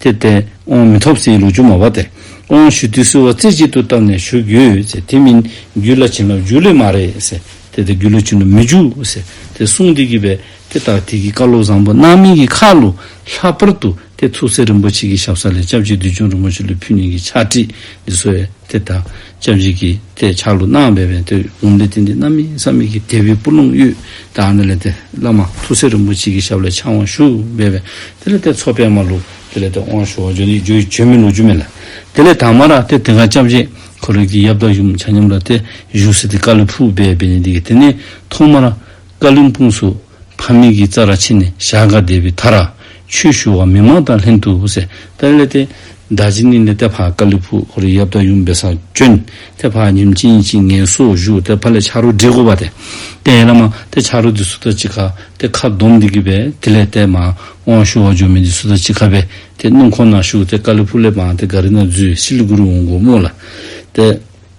དེར་བརྟེན་དབང་མི་ཐོབ་ཟིན་ལུགས་ཆུང་མ་བ་དེ། དབང་ཞུ་དུས་སུ་བ་རྩེ་གཅིག་ཏུ་བཏབ་ནས་བཞུགས་ཡོད་ཟེར་དེ་མིན་རྒྱུད་ལ་བྱིན་རླབས་འཇུག་ལེ་མ་རེད་ཟེར་དེ་དེ་རྒྱུད་ལ་བྱིན་རླབས་མི་འཇུག་ཟེར་དེ་གསུངས་འདི་གི་བས་དེ་ལྟར་དེ་གི་བཀའ་སློབ་བཟང་པོ་གནང་མིན་གི་ཁ་ལོ་ལྷ་པར་དུ་དེ་ཐུགས་སྲས་རིན་པོ་ཆེ་གི་ཞབས་ས་ལས་སྐྱབས་རྗེ་བདུད་འཇོམས་རིན་པོ་ཆེ་ལུས་ཕུལ་ཉིན་གི་ཕྱག་བྲིས་འདི་སོས་དེ་ད་ལྕམ་དྲིས་ཀྱིས་དེས་ཆག་ལུགས་སྣང་བས་བན་དོའི་བུམ་ལས་ཏིང་འཛིན་རྣམ་སྨིན་བསམ་མེད་ཀྱི་རྒྱལ་པོའི་སྤུ་ལོང་གཡུ་དང་ཨ་ནི་ལས་དེ་བླ་མ་ཐུགས་སྲས་རིན་པོ་ཆེ་ཀྱི་ཞབས་ལ་འཆང་བར་ཞུ་སྨྲས་པས་དེ་ལས་དེ་ཚོགས་པད་མ་ལུག་དེ་ལས་དེ་དབང་ཞུ་བར་བྱོན་ཏེ་རྒྱུའི་བྱོན་མི་ལུག་རྒྱུ་མེད་ལ། དེ་ལས་དྭངས་མ་རག་སྟེ་དེ་གར་ལྕམ་དྲིས་འཁོར་ལོས་ཀྱི་ཡབ་བདག་ཡུམ་བྱང་ཉམས་རག་སྟེ་བཞུགས་སྲིད་དེ་བཀའ་ལུས་ཕུག་པས་བན་དེ་ཀྱིས་དེ་ནས་ཐོག་མར་བཀའ་ལུས་འཕུངས་སུ། ཕ་མེས་ཀྱི་རྩ་ར་ཕྱི་ནས་བཞག་འགའ་བསྡད་པའི་མཐར། ཆོས་ཞུ་བ་མི་མང་དང་ལྷན་དུ་ཧུ་སེ། ཏེ་ལེ་ཏེ། མདའ་ཅི་ནི་ལེ་ཏེ་བྷ་ཀ་ལི་བྷུ་ཧོ་རི་ཡབ་དང་ཡུམ་བེ་སར་བྱོན། ཏེ་བྷ་ཉིམ་ཅི་ཉི་ཅི་ངལ་སོ་བཞུགས་ཏེ་བྷ་ལེ་ཕྱག་རོ་བྲིས་བསྐོར་བ་སྟེ། ཏེ་ཨེ་ལ་མ། ཏེ་ཕྱག་རོ་འདི་སུ་ལྟར་ཅི་ཁ། ཏེ་ཁ་སྡོམ་འདི་གི་བས་ཏེ་ལེ་ཏེ་མ། དབང་ཞུ་བ་འབྱོར་མེད་འདི་སུ་ལྟར་ཅི་ཁ་བས། ཏེ་སྣུམ་ཁོང་ན་བཞུགས་ཏེ་ཀ་ལི་བྷུ་ལེ་མ། ཏེ་ག་རི་ན་བརྫུས་ཤི་ལི་གུ་རུ་འོང་དགོངས་མོ་ལ། ཏེ།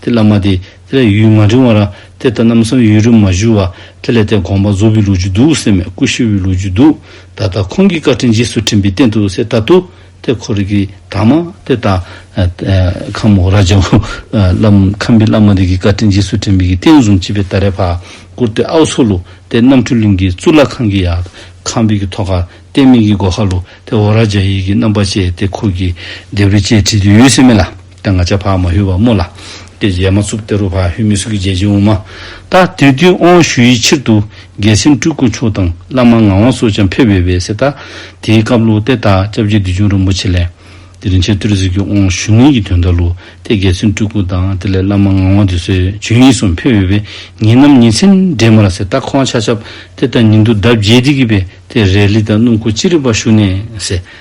ཏེ་བླ་མ་དེ་ལས་ཡུལ་མ་འབྲིང་བ་ར་ཏེ་ད་ནམ་སང་ཡུལ་རུ་མ་བཞུགས་བ་དེ་ལས་དེ་དགོངས་པ་རྫོགས་པའི་ལུགས་ཀྱི་འདུག་སེ་མེད་སྐུ་ཤི་བའི་ལུགས་ཀྱི་འདུག་ད་ལྟ་ཁོང་གིས་བཀའ་དྲིན་རྗེས་སུ་དྲན་པའི་རྟེན་དུ་སེ་ད་དུ་དེ་ཁོ་རིག་གི་དྭངས་མ་དེ་ད་ཁམས་འོག་ར་ཇོ་ཁམས་པའི་བླ་མ་དེ་གི་བཀའ་དྲིན་རྗེས་སུ་དྲན་པའི་གི་རྟེན་བཟུང་བྱས་པའི་ད་རེ་བར་བཀུར་ཏེ་ཨའུ་ཚུགས་ལུགས་དེ་རྣམ་འཕྲུལ་གླིང་གི་གཙུག་ལག་ཁང་གི་ཡ་ཁམས་པའི་གི་ཐོག་ཁར་བསྟན་སྨིན་གི་སྒོ་ཁ་ལུགས་དེ་འོག་ར་ཇོ་ཡི་གི་རྣམ་པ་བྱས་ཏེ་ཁོ་གིས་སྡེབ་རེ་བཅས་བྲིས་དུས་ཡོད་སེ་མེད་ལ། ད་ང་ཅག་ཕག་མ་ཧུལ་བ་རྨོ་ལ། དེ་རྗེས་མ་ཚུགས་ཏེ་རུ་ཕག་ཧུལ་མི་སུ་གི་རྗེས་ཅི་འོང་མ། ད་དེ་དུས་ཨོང་ཞུ་ཡི་ཕྱིར་དུ། རྒྱལ་སྲིན་སྤྲུལ་སྐུ་མཆོག་དང་བླ་མ་ངག་དབང་སོགས་ཀྱང་ཕེབས་ཡོད་པས་སྲིད། ད་དེའི་སྐབས་ལུགས་དེ་དག་སྐྱབས་རྗེ་བདུད་འཇོམས་རིན་པོ་ཆེ་ལས། དེ་རིང་ཆེར་ཏུར་ཟིག་གི་ཨོང་ཞུ་ངེད་ཀྱི་དོན་དག་ལུགས་དེ་རྒྱལ་སྲིན་སྤྲུལ་སྐུ་དང་དེ་ལས་བླ་མ་ངག་དབང་དུད་སོལ་ཇོན་ཡིད་གསུམ་ཕེབས་ཡོད་པས་ངེད་རྣམས་ཉིན་མཚན་འབྲལ་མ་ལ་ཟེར་ད་ཁོང་ཆ་ཆབ་དེ་ལྟར་ཉིན་དུ་ཟླ་བརྒྱད་འགྲིག་གི་བས་དེ་རེས་ལི་དང་སྣུམ་ཁུ་ཅི་རིགས་པ་བཤུ་ནས་ཟས་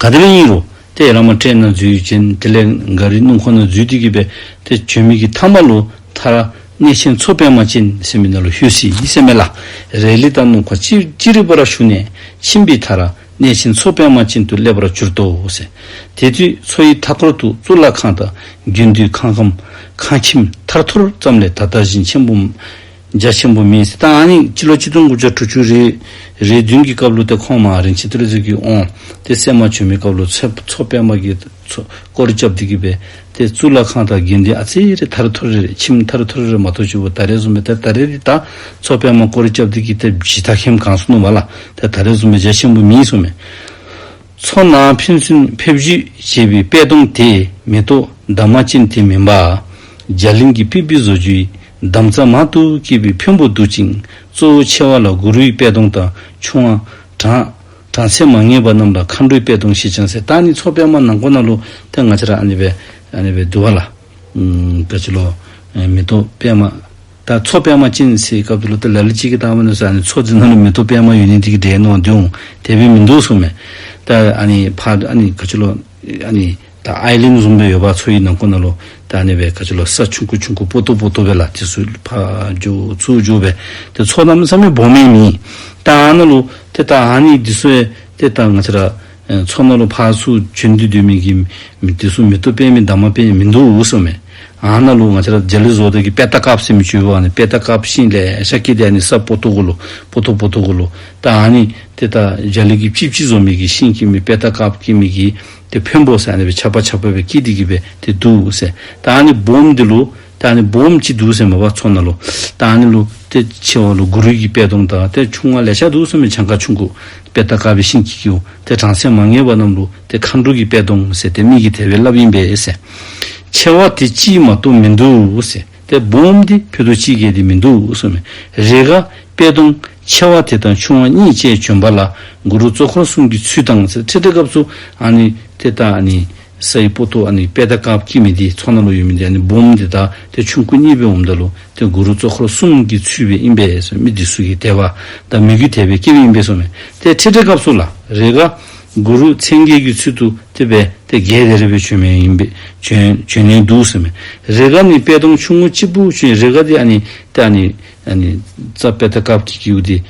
ག་དེ་ལས་གཉིས་རུ། དེ་ཡི་རང་མ་སྤྲད་ན་རྫུས་ཡོད་ཅན། དེ་ལས་འགའ་རིའི་སྣུམ་ཁོ་ན་རྫུས་ཏེ་གྱུར་པས། དེ་བྱོན་མིག་གི་ཐ་མ་ལུ། ཐ་ར། གནས་ཆེན་མཚོ་དཔལ་མ་ཅན། སེམས་མེད་ན་ལུ་ཧྱུ་སི་ཡི་སེམས་མེད་ལ། རས་ལི་དང་སྣུམ་ཁ་ཅི། ཅི་རིགས་པ་ར་ཞུ་ནས། ཕྱིན་པས་ཐ་ར། གནས་ཆེན་མཚོ་དཔལ་མ་ཅན་དུ་སླེབ་ར་གྱུར་ཏོ། དེ་དུས་མཚོ་ཡི་མཐའ་སྐོར་དུ་གཙུག་ལག་ཁང་དང། རྒྱུན་དུས་ཁང་ཁམས། ཁང་ཁྱིམ། ཐར་ཐོར་ཙམ་ལས་ད་ལྟ་བཞིན་ཆེན་པོ། རྒྱ་ཆེན་པོ་མིན་སི་ཏཱ་ཨན་ཡིག་སྤྱི་ལོ་གཅིག་སྟོང་དགུ་བརྒྱ་དྲུག་ཅུ་རེ་རེའི་བདུན་གྱི་སྐབས་ལོ་དེ་ཁོང་མ་རིན་ཆེན་ཏི་ལི་ཙི་གིས་འོང་སྟེ་སད་མ་བྱོན་མའི་སྐབས་ལོ་ཚེ་མཚོ་པད་མ་གིས་སྐོར་སྐྱབས་འདི་གི་བས་ཏེ་གཙུག་ལག་ཁང་དང་དགེ་འདུན་ཨ་ཙི་རེ་ཐར་ཐོར་རེ་ཁྱིམ་ཐར་ཐོར་རེ་མ་ཐོ་ཆུ་བོ་ད་རེ་བཟུང་མའི་དེར་ད་རེ་རི་དྭགས་མཚོ་པད་མ་སྐོར་སྐྱབས་འདི་གི་ཐེབས་བཞི་ད་ཁྱིམ་གངས་སུ་སྣུམ་བ་ལ་དེར་ད་རེ་བཟུང་མའི་རྒྱ་ཆེན་པོ་མིན་སོ་མེད། མཚོ་ནང་ཕན་ཚུན་ཕེབས་བཞུད་བྱེད་པའི་པད་སྡོང་དེ་མེ་ཏོག་འདབ་མ་ཅན་དེ་མིན་པ། རྒྱ་གླིང་གི་པི་པི་བཟོ་རྒྱུའི་འདམ་རྩ་མང་དུ་སྐྱེས་པའི་ཕོན་པོ་འདུག་ཅིང་གཙོ་བོ་ཆེ་བ་ལ་གུ་རུའི་པད་སྡོང་དང་ཆུ་དབང། གྲངས། གྲངས་ཚད་མ་ངེས་པ་རྣམས་ལ་མཁའ་འགྲོའི་པད་སྡོང་ཞེས་ཀྱང་ཟེར་ད་ནི་མཚོ་པད་མ་ནང་ཁོ་ན་ལོ་ཐེ་ང་ཆ་ར་ཨ་ནི་བའི་ཨ་ནི་བའི་དུ་བ་ལ། དགའ་བྱེད་ལོ། མེ་ཏོག་པད་མ། ད་མཚོ་པད་མ་སྤྱིན་ཟེར་སྐབས་དེ་ལོ་དེ་ལ་ལི་གཅིག་གི་སྟག་མོ་ནས་བཟུང་ཨ་ནི་མཚོ་འདི་ནང་ལ་མི་འདུག་པད་མ་ཡོད་ནི་འདི་གི་འདྲའི་ནང་འདི་འོང་དེ་བས་མི་འདུག་གསུངས་མོད། ད་ཨ་ནི་ཕ་ཨ་ནི་ག་ཆུ་ལོ་ཨ་ནི་ད་ཨའི་ལིང་བཟུང་པའི་ཡོད་པ་མཚོ་ཡི་ནང་ཁུང་ན་ལོ་ད་ཨ་ནི་བས་ག་ཆུ་ལོ་ས་ཆུང་ཁུ་ཆུང་ཁུ་སྤོ་ཏོ་སྤོ་ཏོ་བས་ལ་དེ་སུ་ཕ་རྒྱུག་ཚུར་རྒྱུག་བས་དེ་མཚོ་ནམ་ས་མི་བོ་མའི་མིང་ད་ཨ་ན་ལོ་དེ་ད་ཨ་ནི་འདི་སུའི་དེ་ད་ང་ཚ་ར་མཚོ་མོ་ལོ་ཕག་ཚུགས་ཆོས་འདུལ་དུས་མིན་གྱི། དེ་གསུམ་མི་ཐུབ་དཔེ་མིན་དྭངས་མ་དཔེ་མི་འདུག་འུ་སོ་མེད། ཨ་ན་ལུག་ང་ཆ་ར་ཇ་ལི་བཟོ་དེ་གི་པད་ད་ཀབ་སེ་མི་ཆུ་བོ་ཨ་ནི་པད་ད་ཀབ་ཤིང་ལས་ཤ་ཀི་དེ་ཨ་ནི་སབ་པོ་ཐུག་གུ་ལུ་པོ་ཐུག་པོ་ཐུག་གུ་ལུ་ད་ཨ་ནི་དེ་ད་ཇ་ལི་གི་པྱིབ་ཅི་བཟོ་མི་གི་ཤིང་ཀི་མི་པད་ད་ཀབ་ཀི་མི་གི་དེ་བྷོན་བོ་སེ་ཨ་ནི་བེ་ཆ་པ་ཆ་པོ་བེ་ཀི་དེ་གི་བེ་དེ་འདུག་སེ་ད་ཨ་ནི་བོམ་དེ་ལུ། ད་ནི་འབུམ་གཅིག་འདུག་སེམས་མ་བ་ཚོ་ན་ལོ། ད་ནི་ལོ། དེ་ཆེ་བ་ལོ་དགུ་རུས་ཀྱི་དཔལ་སྟོང་དང་དེ་ཆུང་བ་ལས་ཤ་འདུག་སེམས་མ་བྱང་ཁ་ཆུང་གུ། དཔལ་རྟ་དཀར་བའི་ཤིང་གིས་ཀྱིའོ། དེ་བྲང་སེམས་མ་ངེས་པ་རྣམས་ལོ། དེ་མཁའ་འགྲོ་གྱི་དཔལ་སྟོང་ཟེར་དེ་མིག་གི་དལ་བའི་རླབས་ཡིན་པས་ཟེར། ཆེ་བ་དེ་ཅིའི་མ་སྟོང་མི་འདུག་ཟེར་དེ་འབུམ་དེ་ཕུ་དུ་ཅིའི་སྐད་དེ་མི་འདུག་གསུངས་མེད། རེས་འགའ། དཔལ་སྟོང། ཆེ་བ་དེ་དང་ཆུང་བ་གཉིས་བཅས་བྱོན་པ་ལ། གུ་རུ་གཙོ་འཁོར་གསུམ་གྱི་ཚུལ་དང་ཟེར་ཁྲི་སྟེགས་སྐབས་སུ། ཨ་ནི། དེ་ལྟ་ནི། ས་ཡི་པོ་ཏོ་ཨ་ནི་དཔལ་ད་ཀག་སྐྱིད་མི་འདི་ཚོགས་ན་ལོ་ཡོད་མི་འདི་ཨ་ནི་འབུམ་འདི་དག་དེ་ཆུང་སྐུ་གཉིས་པོའི་འོམ་ད་ལོ་དེ་གུ་རུ་གཙོ་འཁོར་གསུམ་གྱིས་ཚུད་པའི་ཨིན་པས་སོ་མི་འདི་སུ་གིས་དད་པ་དང་མི་གུས་དད་པའི་སྐྱེ་བོའི་ཨིན་པས་སོ་མེ་དེ་ཁྲི་ཁྲི་སྐབས་སུ་ལ་རེ་ཀ་གུ་རུ་མཚན་བརྒྱད་ཀྱིས་ཚུད་དུ་དེ་པས་དེ་བརྒྱད་དད་རེ་པོའི་ཆོས་མེ་ཨིན་པས་བྱོན་བྱོན་ནས་འདུག་སོ་མེ་རེ་ཀ་ནི་དཔལ་སྟོང་ཆུང་ངུ་གཅིག་པུ་བྱོན་རེ་ཀ་དེ་ཨ་ནི་དེ་ཨ་ནི་ཨ་ནི་རྩ་དཔལ་ད་ཀག་སྐྱིད་ཀྱིས་ཨུ་དེ།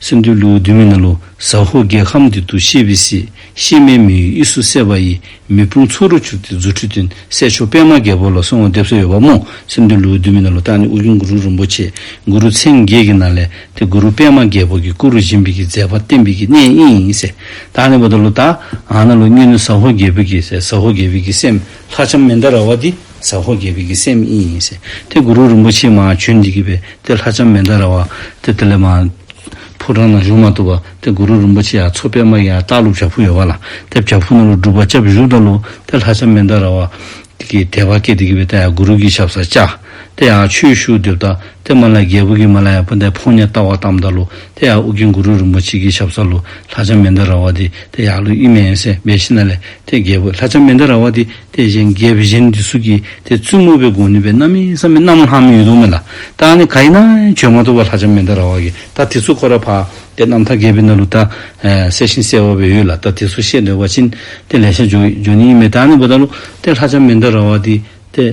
སེམས་འདུལ་ལུགས་འདུལ་མི་ན་ལོ་ཟ་ཧོ་རྒྱལ་ཁམས་འདི་འདུ་ཤེས་བི་སི་ཤེས་མའི་མི་ཡུལ་ཨི་སུ་སེ་བ་ཡི་མི་ཕུང་ཚོ་རུ་ཆུག་སྟེ་རྫུ་འཕྲུལ་ཏིན་གསལ་མཆོག་པད་མ་རྒྱལ་པོ་ལ་སྲུང་བ་འདེབས་སྲོལ་ཡོད་པ་རྨོངས་སེམས་འདུལ་ལུགས་འདུལ་མི་ན་ལོ་བདག་ནི་དབུ་ཁྱུང་གུ་རུ་རིན་པོ་ཆེ་གུ་རུ་མཚན་བརྒྱད་ཀྱི་ནཱ་ལེནྟེ་གུ་རུ་པད་མ་རྒྱལ་པོ་གྱི་སྐུ་རུ་བཞེངས་པའི་ཀྱི་མཛད་པ་བསྟན་པའི་ཀྱི་གནས་དབྱིངས་ཡིན་སེ་བདག་ནི་བ་ད་ལོ་དག་ང་ན་ལོ་སྙུན་ནི་ཟ་ཧོ་རྒྱལ་བོད་ཀྱི་ཟ་ཧོ་རྒྱལ་བོད་ཀྱི་སེམས་ལྷ་ཆམ་མེ་མདའ་ར་བ་འདི། ཟ་ཧོར་རྒྱལ་བོད་ཀྱི་སེམས་དབྱིངས་ཡིན། དེ་གུ་རུ་རིན་པོ་ཆེས་མ་བྱོན་འདི་གི་བའི་དེ་ལྷ་ལྕམ་མེ་མདའ་ར་བ། དེ་དེ་ལས་མ། ཕོ་བྲང་ན་བཞུགས་མ་ཐུབ་པ། དེ་གུ་རུ་རིན་པོ་ཆེ་ཡང་མཚོ་པད་མ་ཡི་ཡང་སྟག་ཀླུ་བྱ་ཕུག་ཡོད་པ་ལ། དེ་བྱ་ཕུག་ན་ལུགས་སྒྲུབ་པ་ལྕགས་བཞུགས་དང་ལུགས་དེ་ལྷ་ལྕམ་མེ་མདའ་ར་བ། དེ་གི་དེ་བ་ཀས་དེ་གི་བའི་དེ་ཡང་གུ་རུ་གི་ཞབས་སར་བཅའ། དེ་ཡང་ཆོས་ཞུགས་འདེབས་ད། དེ་མ་ལ་རྒྱལ་བོད་ཀྱི་མ་ལ་ཡང་པུ་མདའི་ཕོ་ཉས་བཏགས་བ་བཏམ་ད་ལུགས་དེ་ཡང་ཨུ་གིན་གུ་རུ་རིན་པོ་ཆེ་གི་ཞབས་སར་ལུགས་ལྷ་ལྕམ་མེ་མདའ་ར་བ་དེ་དེ་ཡང་ལུགས་དབྱིན་མེ་ཡན་སེ་མེ་ཤི་ན་ལས་དེ་རྒྱལ་བོད་ལྷ་ལྕམ་མེ་མདའ་ར་བ་དེ། དེ་བཞིན་རྒྱས་པའི་གཞན་གྱི་གཟུགས་ཀྱི་དེ་བཙུན་མོ་བའི་དགོངས་ནུས་པའི་རྣམ་སྨིན་བསམ་མི་རྣམ་ལྷ་མིན་ཡུལ་ལུང་མེད་ལ། བདག་ནི་ག་ཡིན་ན་བྱོན་མ་ཐུབ་བ་ལྷ་ལྕམ་མེ་མདའ་ར་བ་གི་ད་དེ་ཚུལ་ཁོ་ར་བག་དེ་རྣམ་ཐར་རྒྱས་པའི་སྣ་ལུ་ད། གསལ་ཞིང་གསལ་བ་བའི་ཡུལ་ལ་ད་དེ་ཚུལ་ཤེས་འདོད་བ་ཅི། དེ་ལས་ཤར་འཇོག་འཇོག་ནི་ཡིན་མེད་ད་ནི་བུ་ད་ལུ་ཏའི་ལྷ་ལྕམ་མེ་མདའ་ར་བ་དེ་དེ།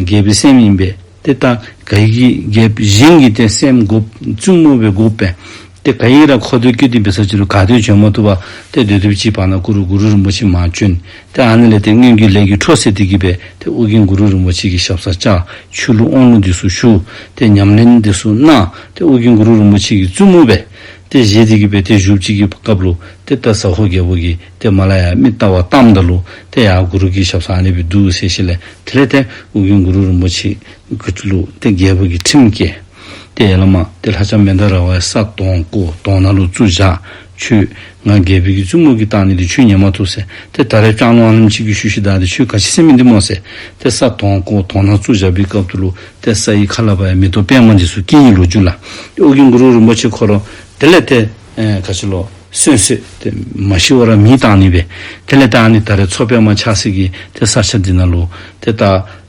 རྒྱས་པའི་སེམས་ཡིན་པས་དེ་ད་ག་ཡིན་གྱི་རྒྱས་པའི་གཞན་གྱི་དེ་སེམས་བསྒོ་བཙུན་མོ་བའི་བསྒོ་བས། དེ་བས་ཡིན་རང་ཁོ་བསྟོད་རྒྱུ་འདི་འབི་སར་ཅི་རུ་ག་དོན་བྱོན་མ་ཐུབ་བ་སྟེ་སྡོད་ཐུབ་ཅིའི་བར་ན་གུ་རུ་གུ་རུ་རིན་པོ་ཆེ་མ་བྱོན་ཏེ་ཨ་ནེ་ལེ་དེ་སྔོན་རྒྱུད་ལས་ཀྱི་འཕྲོ་སེ་ཏི་གི་བས་དེ་ཨོ་རྒྱན་གུ་རུ་རིན་པོ་ཆེ་གི་ཞབས་སར་བཅག་ཆུ་ལུག་ཨོང་ལུག་འདི་སུ་བཞུགས་ཏེ་ཉམས་ལེན་འདི་སུ་གནང་ཏེ་ཨོ་རྒྱན་གུ་རུ་རིན་པོ་ཆེ་གི་བཙུན་མོ་བས་ཏེ་བཞེས་ཏི་གི་བས་དེ་བཞུགས་གཅིག་གི་སྐབས་ལུག་ཏེ་ཏཱ་ས་ཧོ་རྒྱལ་པོ་གི་ཏེ་མ་ལ་ཡ་མི་ཏཱ་བ་ཏམ་ཏཱ་ལུག་ཏེ་ཡ་གུ་རུ་གི་ཞབས་སར་ཨ་ནེ་བི་འདུག་སེ་ཤི་ལེ་དེ་ལས་ཏེ་ཨོ་རྒྱན་གུ་རུ་རིན་པོ་ཆེ་གི་ལུག་ཏེ་རྒྱལ་པོ་གི་ཁྲིམས་སྐྱེས། སྟེ། བླ་མ་སྟེ་ལྷ་བྱམས་མེ་མདའ་ར་བའི་ས་དོང་སྐུ་དོང་ནཱ་ལུ་བཙུགས། བཞག་ཆུ་ང་རྒྱལ་བུ་ཀྱི་བཙུན་མོ་ཀྱི་རྟགས་ནི་དེ་ཆུ་ཉེ་མ་ཐུག་ཟེར་ཏེ་ད་རེས་སྐྲག་སློང་ཨ་ལམ་ཕྱིས་ཀྱི་ཤུལ་ཤི་དག་དེ་ཆུའི་ག་ཕྱི་སེམས་མི་འདི་མོ་ཟེར་ཏེ་ས་དོང་སྐུ་དོང་ནཱ་བཙུགས་བཞག་པའི་སྐབས་དུ་ལུ་ཏེ་ས་ཡི་ཁ་ལ་བ་ཡི་མི་ཏོ་པད་མ་འདི་སུ་སྐྱེ་ཡིན་ལོ་རྒྱུས་ལ་ཨོ་གྱི་གུ་རུ་རིན་པོ་ཆེ་འཁོར་རོ་དེ་ལས་དེ་ག་ཕྱི་ལོ་སོན་སོད་དེ་མ་ཤི་བ་ར་མིའི་རྟགས་ནི་བས་དེ་ལས་རྟགས་ནི་ད་རེས་མཚོ་པད་མ་ཆགས་སྲིད་ཀྱི་དེ་སར་ཆ་འདི་ན་ལུ་ཏེ་རྟགས།